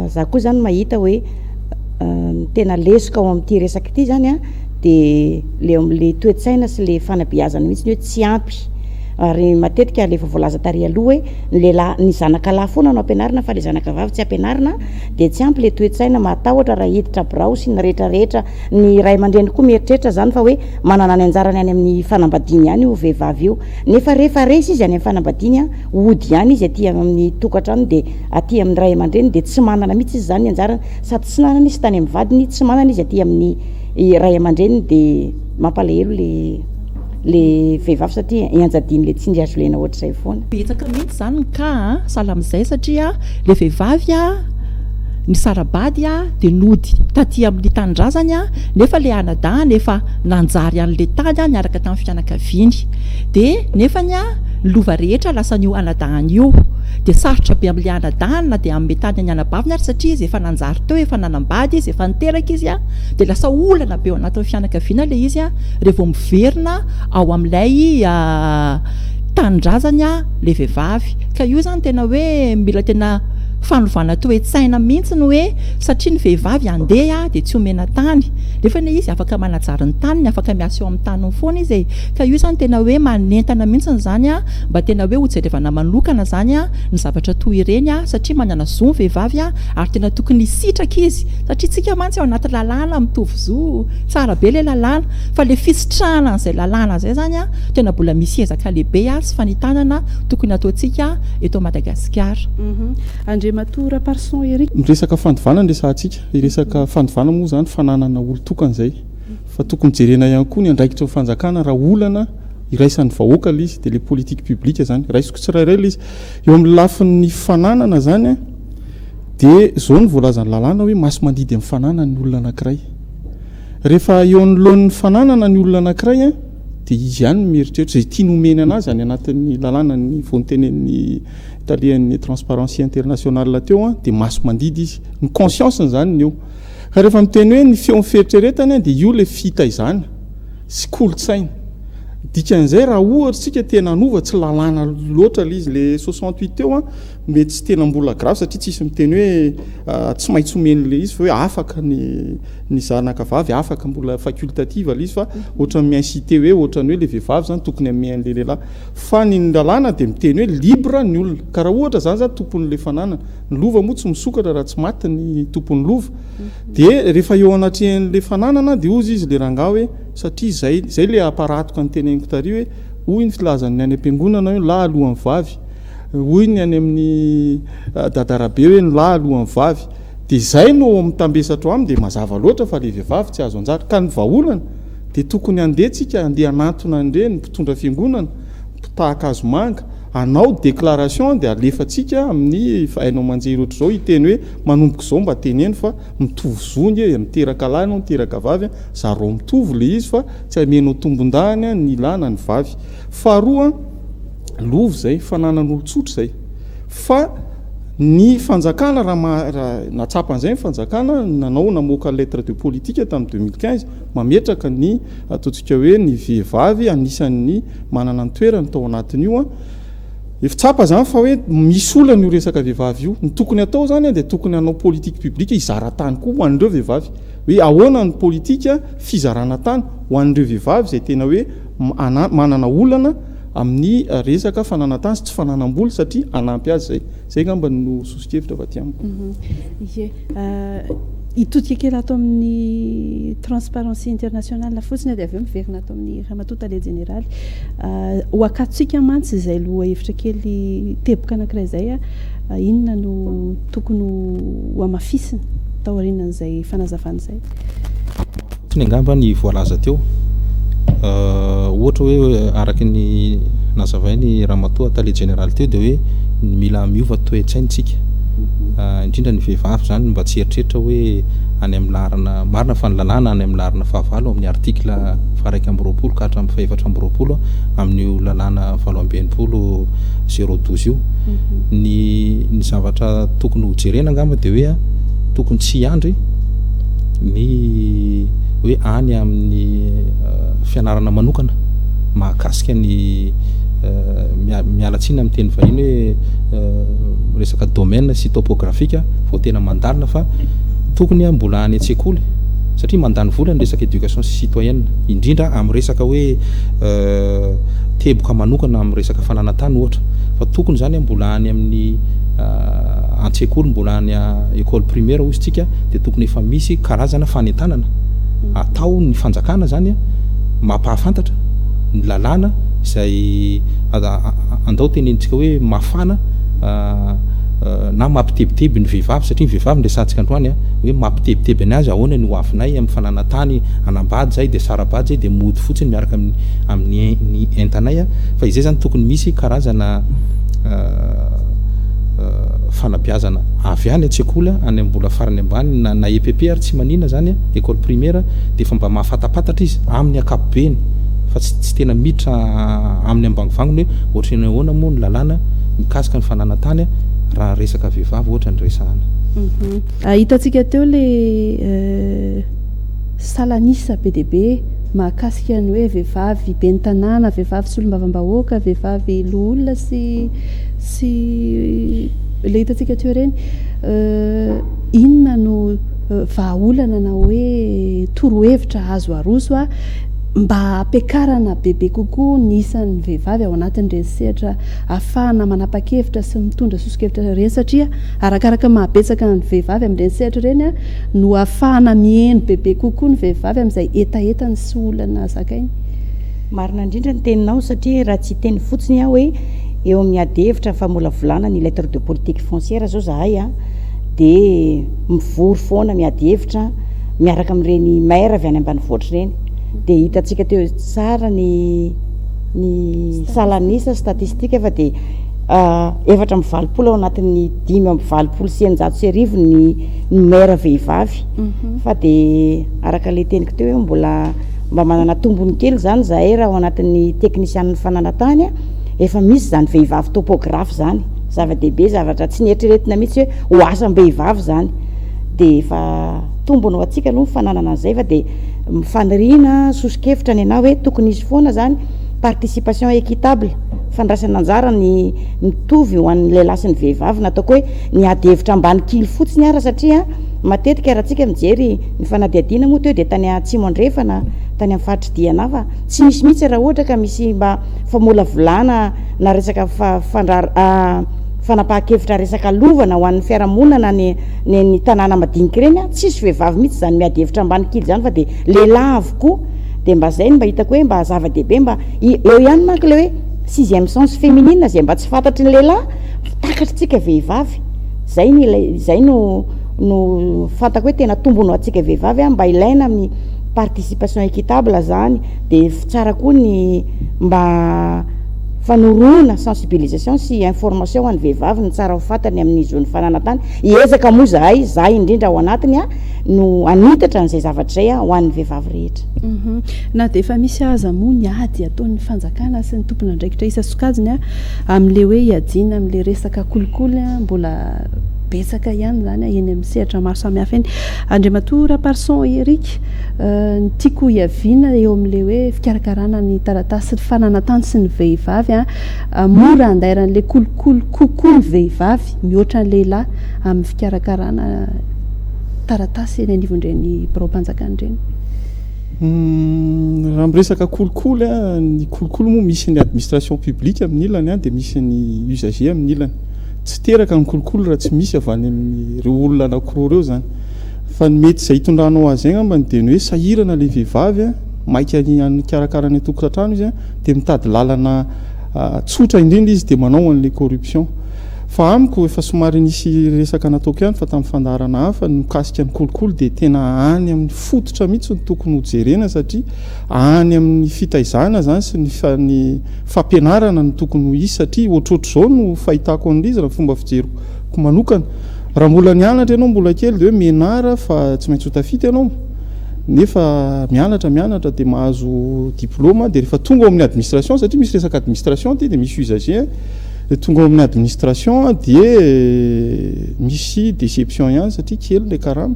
za koa zany mahita hoe ny tena lesoka ao amin'ity resaka ity zany a dia le le toe-tsaina sy le fanabeazana mihitsy ny hoe tsy ampy ary matetika le efa voalaza tary aloha hoe ny lehilahy ny zanaka lahy foana no ampianarina fa le zanaka vavy tsy ampianarina dia tsy ampy le toe-tsaina mahatahotra raha hiditra birao sy ny rehetra rehetra ny ray aman-dreny koa mieritreritra zany fa hoe manana ny anjarany any amin'ny fanambadiany ihany io vehivavy io nefa rehefa resy izy any amin'ny fanambadiany a ody ihany izy aty amin'ny tokantrano dia aty amin'ny ray aman-dreny dia tsy manana mihitsy izy zany ny anjarany sady tsy nanana izy tany amin'ny vadiny tsy manana izy aty amin'ny ray aman-dreny dia mampalahelo le le vehivavy satria ianjadiany le tsindry azo lena ohatr'izay foana. Betsaka mihitsy izany ny cas a, sahala amin'izay satria le vehivavy a nisara-bady a dia nody taty amin'ny tanindrazany a, nefa le anadahany efa nanjary any le tany a niaraka tamin'ny fianakaviany dia nefany a ny lova rehetra lasan'io anadahany io dia sarotra be amin'le anadahany na dia hanome tany ny anabaviny ary satria izy efa nanjary teo efa nanam-bady izy efa niteraka izy a dia lasa olana be ao anatin'ny fianakaviana le izy a Rey vao miverina ao amin'ilay tanindrazany ilay vehivavy. Ka io izany tena hoe mila tena fanovana toe-tsaina mihitsy ny hoe satria ny vehivavy handeha dia tsy omena tany. Nefa anie izy afaka manajary ny taniny, afaka miasa eo amin'ny taniny foana izy e. Ka io izany tena hoe manentana mihitsy izany mba tena hoe hojerevana manokana izany ny zavatra toa ireny satria manana zo ny vehivavy ary tena tokony hisitraka izy satria isika mantsy ao anaty lalàna mitovy zo. Tsara be ilay lalàna, fa ilay fisitrahana an'izay lalàna izay izany an, tena mbola misy ezaka lehibe ary sy fanitanana tokony hataontsika eto Madagasikara. Andriamatoa Raparson Eric. Miresaka fandovana ny resahantsika. Hiresaka fandovana moa izany fananana olon-tokana izay. Fa tokony jerena ihany koa ny andraikitry ny fanjakana raha olana iraisan'ny vahoaka ilay izy dia ilay politique publique izany. Raisiko tsirairay ilay izy. Eo amin'ny lafin'ny fananana izany dia izao no voalazan'ny lalàna hoe maso mandidy amin'ny fananany ny olona anankiray. Rehefa eo anoloan'ny fananana ny olona anankiray dia izy ihany no mieritreritra izay tiany homeny an'azy any anatin'ny lalànan'ny voantenen'ny talehan'ny Transparency International teo dia maso mandidy izy. Ny conscience-ny izany ny eo. Ka rehefa miteny hoe ny feon'ny fieritreretany dia io ilay fitaizana sy kolontsaina. Dikan'izay raha ohatra isika te-hanova tsy lalàna loatra ilay izy ilay soixante huit teo, Mety tsy tena mbola grave satria tsisy miteny hoe tsy maintsy omeny ilay izy fa hoe afaka ny ny zanaka vavy afaka mbola facultative ilay izy fa ohatran'ny mi-inciter hoe ohatran'ny hoe ilay vehivavy izany tokony hamehy an'ilay lehilahy. Fa ny ny lalàna dia miteny hoe libre ny olona. Ka raha ohatra izany izany tompon'ilay fananana, ny lova moa tsy misokatra raha tsy maty ny tompon'ny lova, dia rehefa eo anatrehan'ilay fananana dia hozy izy ilay rangahy hoe satria izay izay ilay hamparaatoka ny teneniko tary hoe hoy ny filazan'ny any am-piangonana hoe lahy alohan'ny vavy. Hoy ny any amin'ny dadarabe hoe ny lahy aloha ny vavy dia izay no mitambesatrao aminy dia mazava loatra fa ilay vehivavy tsy azo anjara ka ny vahaolana dia tokony handeha tsika handeha hanantona an'ireny mpitondra fiangonana mpitahaka hazomanga hanao déclaration dia alefatsika amin'ny haino aman-jery ohatr'izao hiteny hoe manomboka izao mba teneno fa mitovy zo anie e miteraka lahy ianao miteraka vavy an zarao mitovy ilay izy fa tsy hamenao tombondahany ny lahy na ny vavy faharoa Lova izay, fananan'olon-tsotra izay. Fa ny fanjakana, raha maha, raha nahatsapa an'izay ny fanjakana, nanao, namoaka lettre de politique tamin'ny 2015, mametraka ny, ataontsika hoe, ny vehivavy anisan'ny manana ny toerany tao anatin'io an. Efa tsapa izany fa hoe misy olana io resaka vehivavy io. Ny tokony hatao izany an, dia tokony hanao politique publique hizara tany koa ho an'ireo vehivavy. Hoe ahoana ny politique fizarana tany ho an'ireo vehivavy izay tena hoe, m, ana, manana olana, amin'ny resaka fananantany sy tsy fananam-bola satria hanampy azy izay. Izay angamba no soso-kevitra avy aty amiko. Ie. Hitodika kely ato amin'ny Transparency International fotsiny dia avy eo miverina ato amin'ny Ramatoa Tale Jeneraly. Ho akatontsika mantsy izay lohahevitra kely teboka anankiray izay, inona no tokony ho hamafisina taorianan'izay fanazavana izay? Fotsiny angamba ny voalaza teo. Ohatra hoe araka ny nazavain'i Ramatoa Tale Jeneraly teo dia hoe mila miova toe-tsaintsika. Indrindra ny vehivavy izany mba tsy hieritreritra hoe any amin'ny laharana, marina fa ny lalàna any amin'ny laharana fahavalo amin'ny article faharaika amby roapolo ka hatramin'ny fahefatra amby roapolo amin'io lalàna valo amby enimpolo zéro douze io. Ny ny zavatra tokony hojerena angamba dia hoe tokony tsy hiandry ny hoe any amin'ny fianarana manokana mahakasika ny miala tsiny amin'ny teny vahiny hoe resaka domaine sy topographique vao tena mandalina fa tokony mbola any an-tsekoly satria mandany vola ny resaka éducation sy citoyenne indrindra amin'ny resaka hoe teboka manokana amin'ny resaka fananantany ohatra fa tokony izany mbola any amin'ny an-tsekoly mbola any école primaire hozy tsika dia tokony efa misy karazana fanentanana atao ny fanjakana zany mampahafantatra ny lalàna izay andao tenenintsika hoe mafana na mampitebiteby ny vehivavy satria ny vehivavy ny resantsika androany a hoe mampitebiteby ny azy ahoana ny ho avinay amin'ny fananantany hanambady zay dia sarabady zay dia mody fotsiny miaraka amin'ny amin'ny ny entanay a fa izay zany tokony misy karazana fanabeazana avy any an-tsekoly any amin'ny mbola farany ambany na na EPP ary tsy manina zany a école primaire dia efa mba mahafatapatatra izy amin'ny ankapobeny fa tsy tsy tena miditra amin'ny ambangovangony hoe ohatra ny ahoana moa ny lalàna mikasika ny fananantany raha resaka vehivavy ohatra ny resahana. Mhm. Ah, hitantsika teo le euh, salanisa be dia be mahakasika ny hoe vehivavy ben'ny tanàna, vehivavy solombavambahoaka, vehivavy loholona sy Tsy ilay hitantsika teo ireny. Inona no vahaolana na hoe torohevitra azo aroso mba hampiakarana bebe kokoa ny isan'ny vehivavy ao anatin'ireny sehatra ahafahana manapa-kevitra sy mitondra soso-kevitra ireny satria arakaraka ny mahabetsaka ny vehivavy amin'ireny sehatra ireny no ahafahana miheno bebe kokoa ny vehivavy amin'izay hetahetany sy olana zakainy. Marina indrindra ny teninao satria raha tsy hiteny fotsiny aho hoe eo amin'ny ady hevitra ny famolavolana ny lettre de politique foncière zao zahay a, dia mivory foana miady hevitra miaraka amin'ireny maire avy any ambanivohitra ireny, dia hitantsika teo tsara ny ny salan'isa, statistique, fa dia efatra amby valopolo ao anatin'ny dimy amby valopolo sy eninjato sy arivo ny ny maire vehivavy, fa dia araka ilay teniko teo hoe mbola Mba manana tombony kely izany izahay raha ao anatin'ny teknisianin'ny fananan-tany efa misy izany vehivavy topographe izany. Zava-dehibe, zavatra tsy nieritreretina mihitsy hoe ho asam-behivavy izany. Dia efa tombony ho antsika aloha ny fananana an'izay fa dia faniriana, soso-kevitra ny anà hoe tokony hisy foana izany participation équitable, fandraisana anjara ny mitovy ho an'ny lehilahy sy ny vehivavy, na ataoko hoe ny ady hevitra ambany kily fotsiny ara satria matetika raha tsika mijery Ny fanadihadiana moa teo dia tany Atsimo Andrefana, tany amin'ny faritr'i Diana fa tsy misy mihitsy raha ohatra ka misy mba famolavolana na resaka fanapahan-kevitra resaka lovana ho an'ny fiarahamonina na ny ny tanàna madinika ireny an, tsisy vehivavy mihitsy izany miady hevitra ambany kily izany fa dia lehilahy avokoa, dia mba izay no mba hitako hoe mba zava-dehibe mba eo ihany manko ilay hoe sixième sens féminine izay mba tsy fantatry ny lehilahy fa takatr'tsika vehivavy, izay no ilay izay no. no fantako hoe tena tombony ho antsika vehivavy a, mba ilaina amin'ny participation équitable zany, de tsara koa ny mba fanorona sensibilisation sy information ho an'ny vehivavy ny tsara ho fatany amin'ny zon'ny fananan-tany, hiezaka moa zahay, za indrindra ao anatiny a, no hanitatra an'izay zavatra izay a ho an'ny vehivavy rehetra. Humm. Na dia efa misy aza moa ny ady ataon'ny fanjakana sy ny tompon'andraikitra isa-sokajiny a, amin'ilay hoe hiadiana amin'ilay resaka kolikoly a, mbola betsaka ihany izany eny amin'ny sehatra maro samihafa eny. Andriamatoa Raparson Eric, ny tiako hiaviana eo amin'ilay hoe fikarakarana ny taratasy sy ny fananantany sy ny vehivavy, mora andairan'ilay kolikoly kokoa ny vehivavy mihoatra ny lehilahy amin'ny fikarakarana taratasy eny anivon'ireny biraom-panjakana ireny. Hmm, raha miresaka kolikoly ny kolikoly moa misy ny administration publique amin'ny ilany dia misy ny usager amin'ny ilany Tsy teraka ny kolikoly raha tsy misy avy any amin'ireo olona anankiroa ireo izany. Fa ny mety izay hitondranao azy angambany dia ny hoe sahirana ilay vehivavy, maika hikarakara ny an-tokantrano izy, dia mitady lalana tsotra indrindra izy dia manao an'ilay corruption. Fa amiko, efa somary nisy resaka nataoko ihany fa tamin'ny fandaharana hafa, ny mikasika ny kolikoly dia tena any amin'ny fototra mihitsy no tokony hojerena satria, Any amin'ny fitaizana izany sy ny ny fampianarana no tokony ho hisy satria ohatrohatr'izao no fahitako an'izy raha ny fomba fijeriko manokana. Raha mbola nianatra ianao mbola kely dia hoe menara fa tsy maintsy ho tafita ianao nefa mianatra mianatra dia mahazo diploma dia rehefa tonga ao amin'ny administration satria misy resaka administration aty dia misy usager dia tonga ao amin'ny administration dia misy deception ihany satria kely ilay karama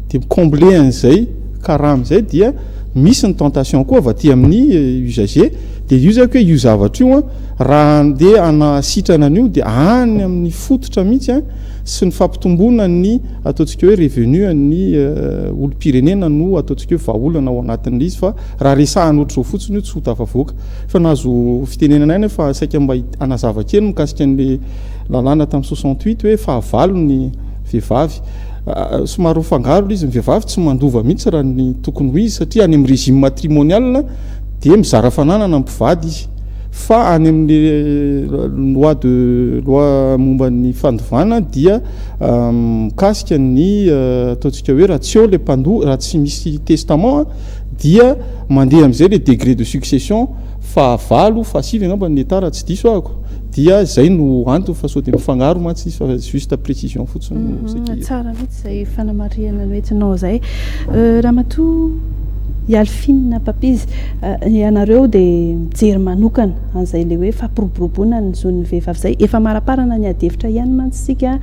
dia mi-combler an'izay karama izay dia Misy ny tentation koa avy aty amin'ny usagers dia io izay ko hoe io zavatra io an raha handeha hanaha sitrana an'io dia any amin'ny fototra mihitsy an sy ny fampitomboana ny ataontsika hoe revenu an'ny olom-pirenena no ataontsika hoe vahaolana ao anatin'ilay izy fa raha resahana ohatr'izao fotsiny io tsy ho tafavoaka. Efa nahazo fitenenana ihany aho fa saika mba hanazava kely mikasika an'ilay lalàna tamin'ny soixante huit hoe fahavalo ny vehivavy. Somary ho fangaro ilay izy, ny vehivavy tsy mandova mihitsy raha ny tokony ho izy satria any amin'ny régime matrimonial dia mizara fananana ny mpivady izy fa any amin'ny loi de loi momba ny fandovana dia mikasika ny ataontsika hoe raha tsy eo ilay mpandoa, raha tsy misy testament dia mandeha amin'izay ilay degré de succession Fahavalo, fahasivy angamba ny hectare raha tsy diso ahako, dia izay no antony fa sao dia mifangaro mantsy izy fa juste précision fotsiny no saika iray. Tsara mihitsy izay fanamarihana noentinao izay. Ramatoa Yalfine Papizy, ianareo dia mijery manokana an'izay ilay hoe fampiroboroboana ny zon'ny vehivavy izay. Efa amaraparana ny adihevitra ihany mantsy isika,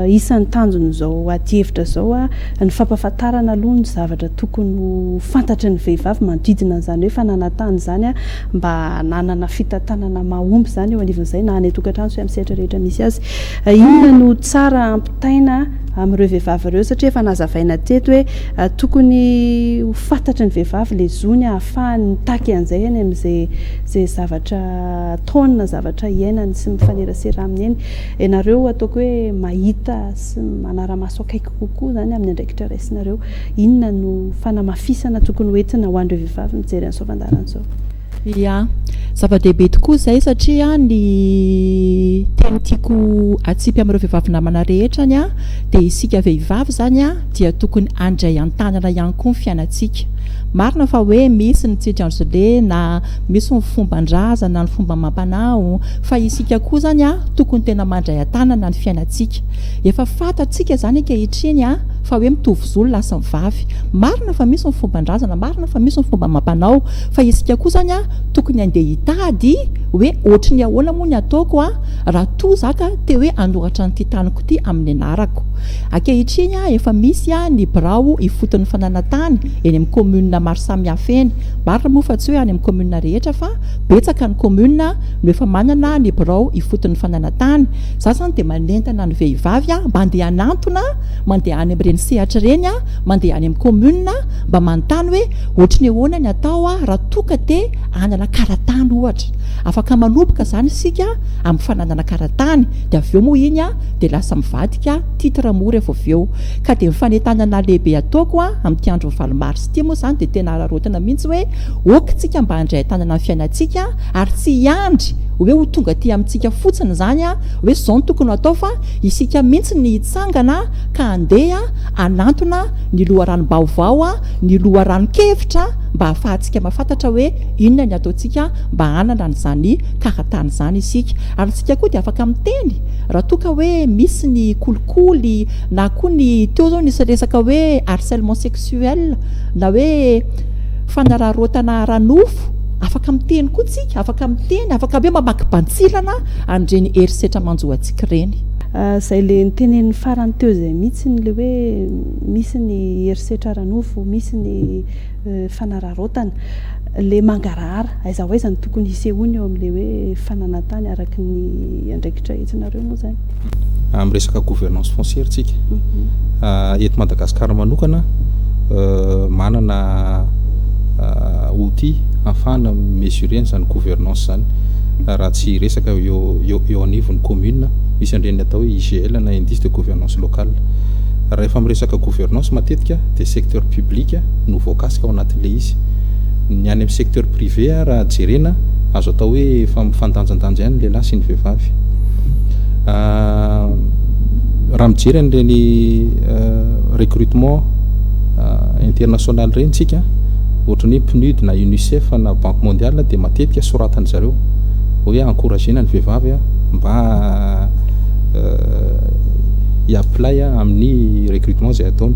isan'ny tanjon'izao adihevitra izao, Ny fampahafantarana aloha ny zavatra tokony ho fantatry ny vehivavy manodidina an'izany hoe fananantany izany mba hananana fitantanana mahomby izany eo anivon'izay na any an-tokantrano sy amin'ny sehatra rehetra misy azy. Inona no tsara hampitaina amin'ireo vehivavy ireo satria efa nazavaina teto hoe tokony ho fantatry ny vehivavy ilay zony hahafahany mitaky an'izay eny amin'izay zavatra ataony na zavatra iainany sy mifanerasera aminy eny. Ianareo ataoko hoe mahita sy manara-maso akaiky kokoa. kokoa izany amin'ny andraikitra raisinareo. Inona no fanamafisana tokony ho entina ho an'ireo vehivavy mijery an'izao fandaharana izao? Ia, zava-dehibe tokoa izay satria ny teny tiako hatsipy amin'ireo vehivavy namana rehetra ny ahy dia isika vehivavy izany dia tokony handray an-tanana ihany koa ny fiainantsika. Marina fa hoe misy ny tsy tranzolena, misy ny fomban-drazana, ny fomba amam-panao fa isika koa izany tokony tena mandray an-tanana ny fiainantsika. Efa fantatsika izany ankehitriny fa hoe mitovy zo ny lahy sy ny vavy. Marina fa misy ny fomban-drazana, marina fa misy ny fomba amam-panao, fa isika koa izany tokony handeha hitady hoe ohatry ny ahoana moa ny ataoko raha toa za ka te hoe hanoratra an'ity taniko ity amin'ny anarako. Ankehitriny efa misy ny birao ifotony fananantany eny amin'ny commune maro samihafa eny. Marina moa fa tsy hoe any amin'ny commune rehetra fa betsaka ny commune no efa manana ny birao ifotony fananantany. Za zany dia manentana ny vehivavy a, mba andeha hanantona, mandeha any amin'ireny sehatra ireny a, mandeha any amin'ny commune a, mba manontany hoe ohatry ny ahoana ny atao a, raha toa ka te hanana karatany ohatra. Afaka manomboka izany isika amin'ny fananana karatany, dia avy eo moa iny a, dia lasa mivadika titre moa rehefa avy eo. Ka dia ny fanentanana lehibe ataoko a, amin'ity andron'ny valo mars ity moa izany dia tena araraotina mihitsy hoe ok tsika mba handray an-tanana ny fiainantsika, Ary tsy hiandry hoe ho tonga aty amintsika fotsiny izany hoe izao no tokony hatao fa isika mihitsy ny hitsangana ka handeha hanantona ny loharanom-baovao, ny loharanon-kevitra mba hahafahantsika mahafantatra hoe inona ny ataontsika mba hanana an'izany karatany izany isika. Ary isika koa dia afaka miteny raha toa ka hoe misy ny kolikoly na koa ny teo izao nisy resaka hoe harcèlement sexuel na hoe fanararaotana ara-nofo, Afaka miteny koa tsika, afaka miteny, afaka be mamaky bantsilana an'ireny herisetra manjo antsika ireny. Izay le nitenenin'ny farany teo izay mihitsy ny le hoe misy ny herisetra ara-nofo, misy ny fanararaotana. Le mangarahara, aiza ho aiza no tokony hisehoany eo amin'le hoe fananantany araka ny andraikitra entsinareo moa izany. amin'ny resaka gouvernance foncière tsika eto Madagascar manokana manana outil afahana mesurer an'izany gouvernance izany raha tsy resaka eo eo anivon'ny commune misy andreny atao hoe IGL na indice de gouvernance locale raha efa miresaka gouvernance matetika dia secteur public no voakasika ao anatin'ilay izy ny any amin'ny secteur privé raha jerena azo atao hoe efa mifandanjandanja ihany ny lehilahy sy ny vehivavy raha mijery an'ireny recrutement international ireny tsika ohatrany hoe pnud na unicef na banque mondiale dia matetika soratany zareo hoe encouragena ny vehivavy a mba iaplay a amin'ny recrutement zay ataony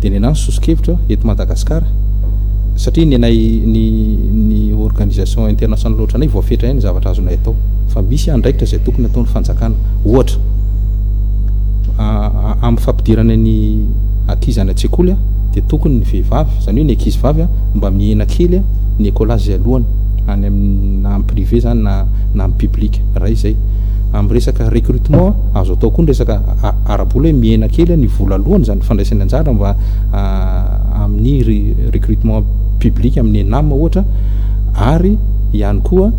dia ny anay ny soso-kevitra eto madagasikara satria ny anay ny ny organisation international ohatranay voafetra ihany ny zavatra azonay atao fa misy andraikitra izay tokony hataon'ny fanjakana, ohatra, amin'ny fampidirana ny ankizy any an-tsekoly dia tokony ny vehivavy, izany hoe ny ankizy vavy, mba mihena kely ny écolage izay aloany, any amin'ny, na amin'ny privé izany na na amin'ny public, iray izay. Amin'ny resaka recrutement, azo atao koa ny resaka ara-bola hoe mihena kely ny vola aloany, izany ny fandraisany anjara mba amin'ny recrutement public amin'ny ENAM ohatra, ary ihany koa.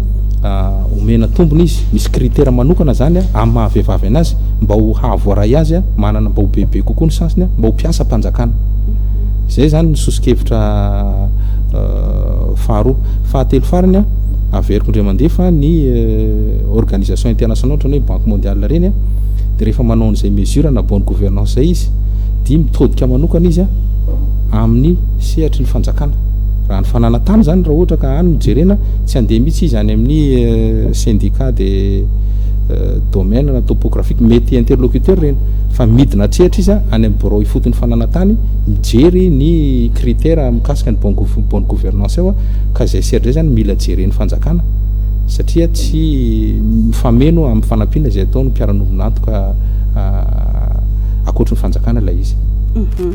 Omena tombony izy, misy critère manokana zany amin'ny maha vehivavy anazy mba ho hahavoaray azy manana mba ho bebe kokoa ny chance-ny mba ho mpiasa mpanjakana. Zay zany ny soso-kevitra faharoa. Fahatelo farany, averiko indray mandeha fa ny organisation internationale ohatrany hoe banque mondiale reny de rehefa manao an'izay mesure na bonne gouvernance zay izy de mitodika manokana izy amin'ny sehatry ny fanjakana. Raha ny fananantany zany raha ohatra ka any no jerena. Tsy handeha mihitsy izy any amin'ny syndicat de domaine na topographique, mety interlocuteur ireny, fa midina hatreatra izy any amin'ny birao ifotony fananantany, mijery ny critère mikasika ny bonne gouvernance eo, ka izay sehatra izay izany mila jeren'ny fanjakana, satria tsy mifameno amin'ny fanampiana izay ataon'ny mpiara-nombon'antoka ankoatry ny fanjakana ilay izy. Mhm.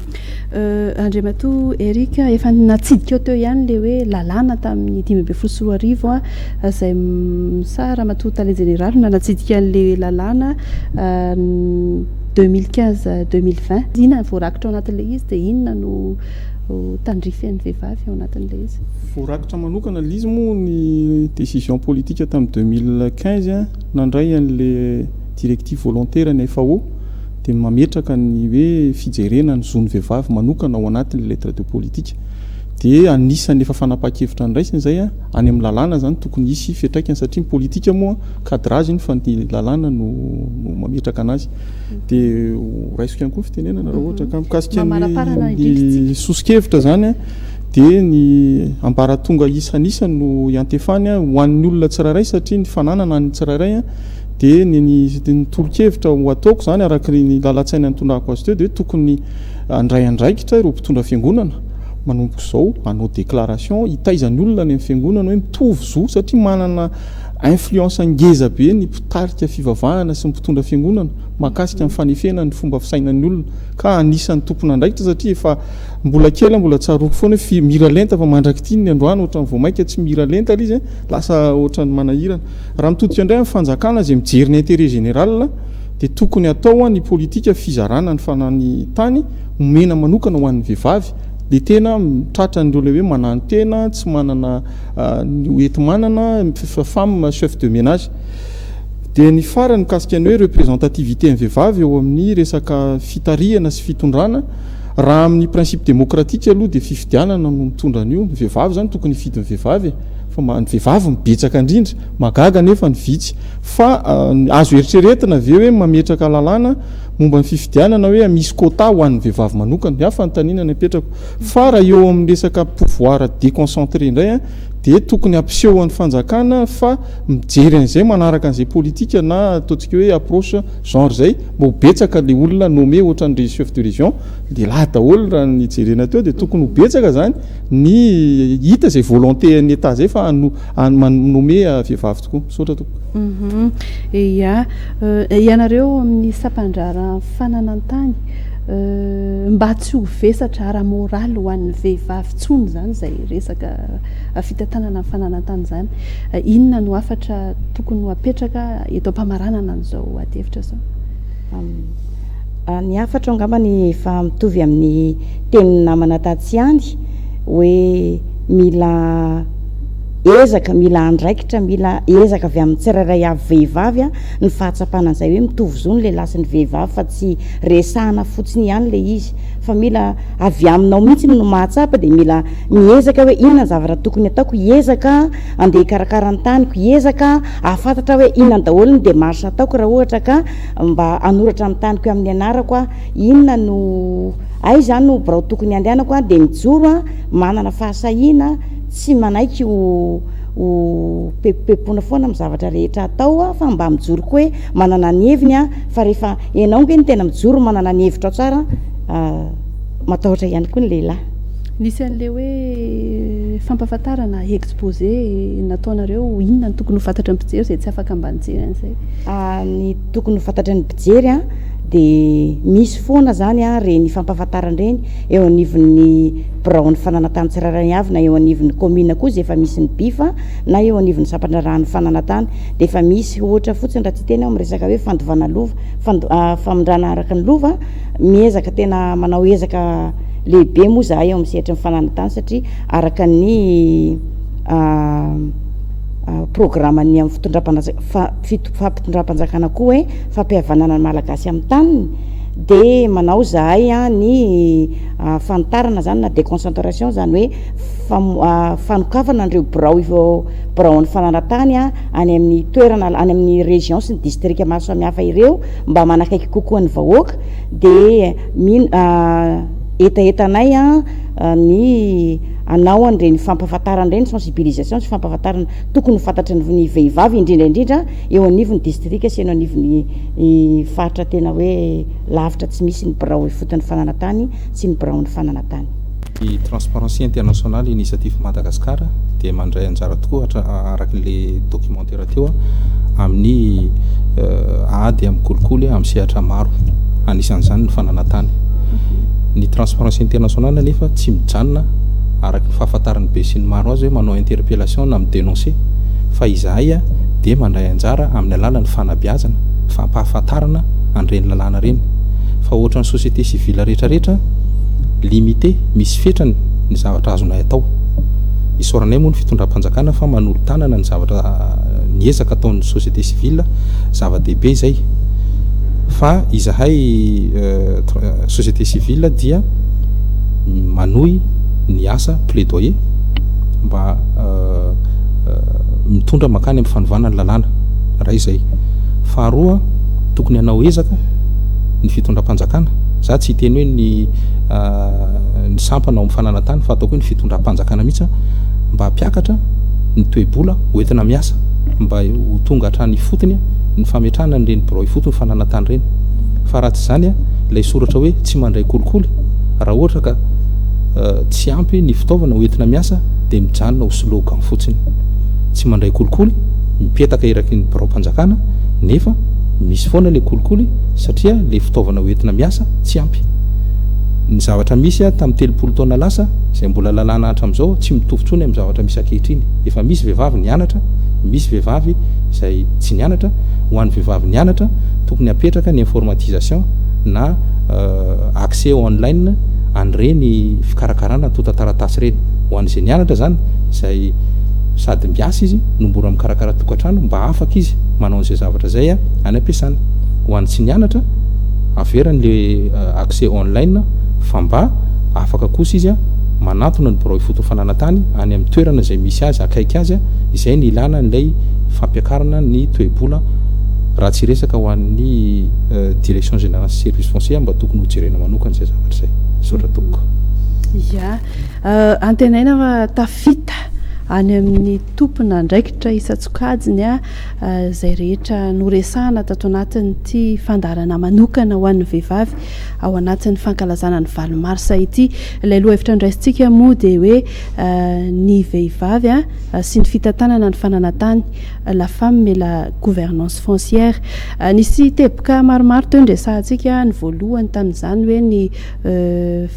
Euh, Andriamatoa Eric, efa natsidikao teo ihany ilay hoe lalàna tamin'ny dimy ambin'ny folo sy roa arivo a, izay m- sa Ramatoa Tale Jeneraly no nanatsidika an'ilay lalàna ah, ny 2015 2020. Inona no voarakitra ao anatin'ilay izy dia inona no oh, tandrify an'ny vehivavy ao anatin'ilay izy? Voarakitra manokana ilay izy moa ny décision politique tamin'ny 2015 nandray an'ilay directive volontaire ny FAO. dia mametraka ny hoe fijerena ny zon'ny vehivavy manokana ao anatin'ny lettre de politique. Dia anisan'ny efa fanapahan-kevitra niraisina izay, any amin'ny lalàna izany tokony hisy fiantraikany satria ny politika moa cadrage iny fa ny lalàna no no mametraka anazy. Dia horaisiko ihany koa ny fitenenana raha ohatra ka mikasika ny soso-kevitra izany dia ny ambaratonga isan'isa no iantefany ho an'ny olona tsirairay satria ny fananana an'ny tsirairay Dia ny ny ny tolo-kevitra ho ataoko izany araka ny ny lalan-tsaina nitondrako azy teo dia hoe tokony handray andraikitra ireo mpitondra fiangonana manomboka izao hanao déclaration hitaiza ny olona any amin'ny fiangonana hoe mitovy zo satria manana influence ngeza be ny mpitarika fivavahana sy ny mpitondra fiangonana mahakasika ny fanefena ny fomba fisainan'ny olona ka anisan'ny tompon'andraikitra satria efa mbola kely aho mbola tsaroako foana hoe fi- miralenta fa mandrak'ity ny androany ohatran'ny vao mainka tsy miralenta ilay izy lasa ohatran'ny manahirana Raha mitodika indray amin'ny fanjakana izay mijery ny intérêt général dia tokony hatao ny politika fizarana ny fana ny tany omena manokana ho an'ny vehivavy dia tena tratra an'ireo ilay hoe mananontena tsy manana ny hoenti-manana femme chef de ménage dia ny farany mikasika ny hoe représentativité ny vehivavy eo amin'ny resaka fitarihana sy fitondrana raha amin'ny principe démocratique aloha dia fifidianana no mitondra an'io ny vehivavy izany tokony hifidy ny vehivavy e Fa mba ny vehivavy no betsaka indrindra. Mahagaga anefa ny vitsy. Fa azo eritreretina ve hoe mametraka lalàna momba ny fifidianana hoe misy quota ho an'ny vehivavy manokana? Ny ahy fanontaniana no apetrako. Fa raha eo amin'ny resaka pouvoir déconcentré indray dia tokony hampisehoan'ny fanjakana fa mijery an'izay, manaraka an'izay politika na ataontsika hoe approche genre izay mba ho betsaka ilay olona nommé ohatran'ny chef de région, lehilahy daholo raha ny jerena teo dia tokony ho betsaka izany. ny hita izay volonté an'ny Etat izay fa hano, hano, manome vehivavy tokoa. Misaotra tompoko. Uhum. Ia. Euh, ianareo amin'ny sampandraharahan'ny fananan-tany, euh, mba tsy ho vesatra ara-moraly ho an'ny vehivavy intsony izany izay resaka fitantanana ny fananan-tany izany. Euh, inona no hafatra tokony ho apetraka eto am-pamaranana an'izao adihevitra izao? Am- Ny hafatro angambany efa mitovy amin'ny tenin'ny namana tatsy ihany hoe mila ezaka, mila andraikitra, mila ezaka avy amin'ny tsirairay avy vehivavy ny fahatsapana an'izay hoe mitovy zo ny lehilahy sy ny vehivavy fa tsy resahana fotsiny ihany ilay izy fa mila avy aminao mihitsy no mahatsapa dia mila miezaka aho hoe inona ny zavatra tokony ataoko, hiezaka aho handeha hikarakara ny taniko, hiezaka aho hahafantatra aho hoe inona daholo ny démarche ataoko raha ohatra ka Mba hanoratra amin'ny taniko eo amin'ny anarako aho, inona no, aiza no birao tokony handehanako aho dia mijoro aho manana fahasahiana tsy manaiky ho ho pepopepona foana amin'ny zavatra rehetra atao aho fa mba mijoro koa hoe manana ny heviny aho fa rehefa ianao nge no tena mijoro manana ny hevitrao tsara matahotra ihany koa ny lehilahy. Nisy an'ilay hoe fampahafantarana, exposé, nataonareo, inona no tokony ho fantatry ny mpijery izay tsy afaka mba nijery an'izay? Ny tokony ho fantatry ny mpijery dia misy foana izany ireny fampahafantarana ireny eo anivon'ny biraon'ny fananantany tsirairay avy na eo anivon'ny kaominina koa izay efa misy ny BIF na eo anivon'ny sampandraharahan'ny fananantany dia efa misy ohatra fotsiny raha tsy hiteny aho amin'ny resaka hoe fandovana lova, fand- famindrana araka ny lova, miezaka tena manao ezaka lehibe moa izahay eo amin'ny sehatry ny fananantany satria araka ny programan'ny amin'ny fitondram-panajaka fa fito fampitondram-panjakana koa hoe fampihavanana ny Malagasy amin'ny taniny dia manao zahay ny fanitarana zany na déconcentration zany hoe fanokafana an'ireo birao biraon'ny fanaratany any amin'ny toerana any amin'ny région sy ny distrika maro samihafa ireo mba manakaiky kokoa ny vahoaka dia mino hetahetanay ny hanao an'ireny fampahafantarana ireny sensibilisation sy fampahafantarana Tokony ho fantatry ny vehivavy indrindra indrindra eo anivon'ny distrika sy eo anivon'ny faritra tena hoe lavitra tsy misy ny birao ifotony fananantany sy ny biraon'ny fananantany. Ny Transparency International Initiative Madagascar dia mandray anjara tokoa araka ilay documentaire teo amin'ny ady amin'ny kolikoly amin'ny sehatra maro anisan'izany ny fananantany. Ny Transparency International anefa tsy mijanona araka fahafantaran'ny besinimaro azy hoe manao interpellation na mi-denoncer fa izahay dia mandray anjara amin'ny alalan'ny fanabeazana, fampahafantarana an'ireny lalàna ireny fa ohatran'ny société civile rehetrarehetra limité, misy fetrany ny zavatra azonay atao. Isaoranay moa ny fitondram-panjakana fa manolo-tanana ny zavatra ny ezaka ataon'ny société civile, zava-dehibe izay fa izahay société civile dia manohy. ny asa plaidoyer mba mitondra makany amin'ny fanovana ny lalàna iray izay. Faharoa, tokony hanao ezaka ny fitondram-panjakana, za tsy hiteny hoe ny ny sampana ao amin'ny fananantany fa ataoko hoe ny fitondram-panjakana mihitsy mba hampiakatra ny toe-bola hoentina miasa mba ho tonga hatrany ifotony ny fametrahana an'ireny birao ifotony fananantany ireny. Fa raha tsy izany ilay soratra hoe tsy mandray kolikoly raha ohatra ka tsy ampy ny fitaovana ho entina miasa dia mijanona ho slogan fotsiny. Tsy mandray kolikoly, mipetaka eraky ny biraom-panjakana nefa misy foana ilay kolikoly satria ilay fitaovana ho entina miasa tsy ampy. Ny zavatra misy tamin'ny telopolo taona lasa izay mbola lalàna hatramin'izao tsy mitovy intsony amin'ny zavatra misy ankehitriny. Efa misy vehivavy nianatra, misy vehivavy izay tsy nianatra. Ho an'ny vehivavy nianatra, tokony hapetraka ny informatisation na accès online. an'ireny fikarakarana antontan-taratasy ireny. Ho an'izay nianatra izany, izay sady miasa izy no mora mikarakara tokantrano, mba afaka izy manao an'izay zavatra izay any am-piasana. Ho an'ny tsy nianatra, averany ilay accès online fa mba afaka kosa izy manantona ny birao ifotony fananantany any amin'ny toerana izay misy azy, akaiky azy, izay ny ilàna an'ilay fampiakarana ny toe-bola raha tsy hiresaka ho an'ny Direction Générale Service Foncier mba tokony hojerena manokana izay zavatra izay. zavatra izay misaotra tompoko ya antenaina fa tafita any amin'ny tompona andraikitra isan-tsokajiny a izay rehetra noresahana tato anatin'ity fandaharana manokana ho an'ny vehivavy ao anatin'ny fankalazana ny valo marsa ity ilay lohahevitra andraisintsika moa dia hoe ny vehivavy a sy ny fitantanana ny fananantany La femme et la gouvernance foncière. Nisy teboka maromaro teo ny resahantsika, ny voalohany tamin'izany hoe ny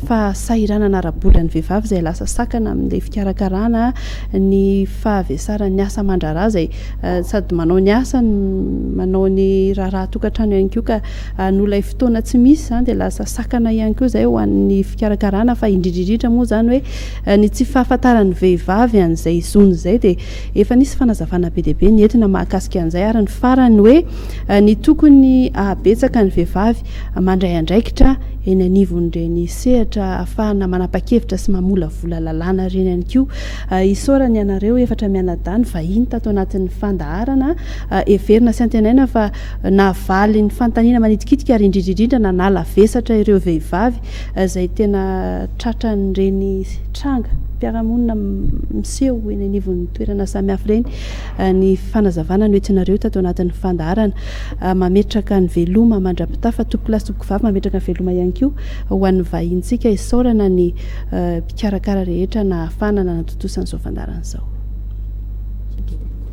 fahasahiranana ara-bolan'ny vehivavy izay lasa sakana amin'ilay fikarakarana, ny fahavesaran'ny asa aman-draharaha izay sady manao ny asa no manao ny raharaha an-tokantrano ihany koa ka noho ilay fotoana tsy misy izany dia lasa sakana ihany koa izay ho an'ny fikarakarana fa indrindra indrindra moa izany hoe ny tsy fahafantaran'ny vehivavy an'izay zony izay dia Efa nisy fanazavana be dia be nentina mahakasika an'izay ary ny farany hoe ny tokony hahabetsaka ny vehivavy mandray andraikitra eny anivon'ireny sehatra ahafahana manapa-kevitra sy mamolavola lalàna ireny ihany koa. Isaorana ianareo efatra mianadahy nivahiny tato anatin'ny fandaharana. Heverina sy antenaina fa nahavaly ny fanontaniana manitikitika ary indrindra indrindra nanala vesatra ireo vehivavy izay tena tratran'ireny tranga mpiara-monina miseho eny anivon'ny toerana samihafa ireny ny fanazavana noentinareo tato anatin'ny fandaharana. Mametraka ny veloma mandra-pitafa, topolahy sy tompokivavy, mametraka ny veloma ihany koa ho an'ny vahinintsika. Isaorana ny mpikarakara rehetra nahafahana nanatontosa an'izao fandaharana izao.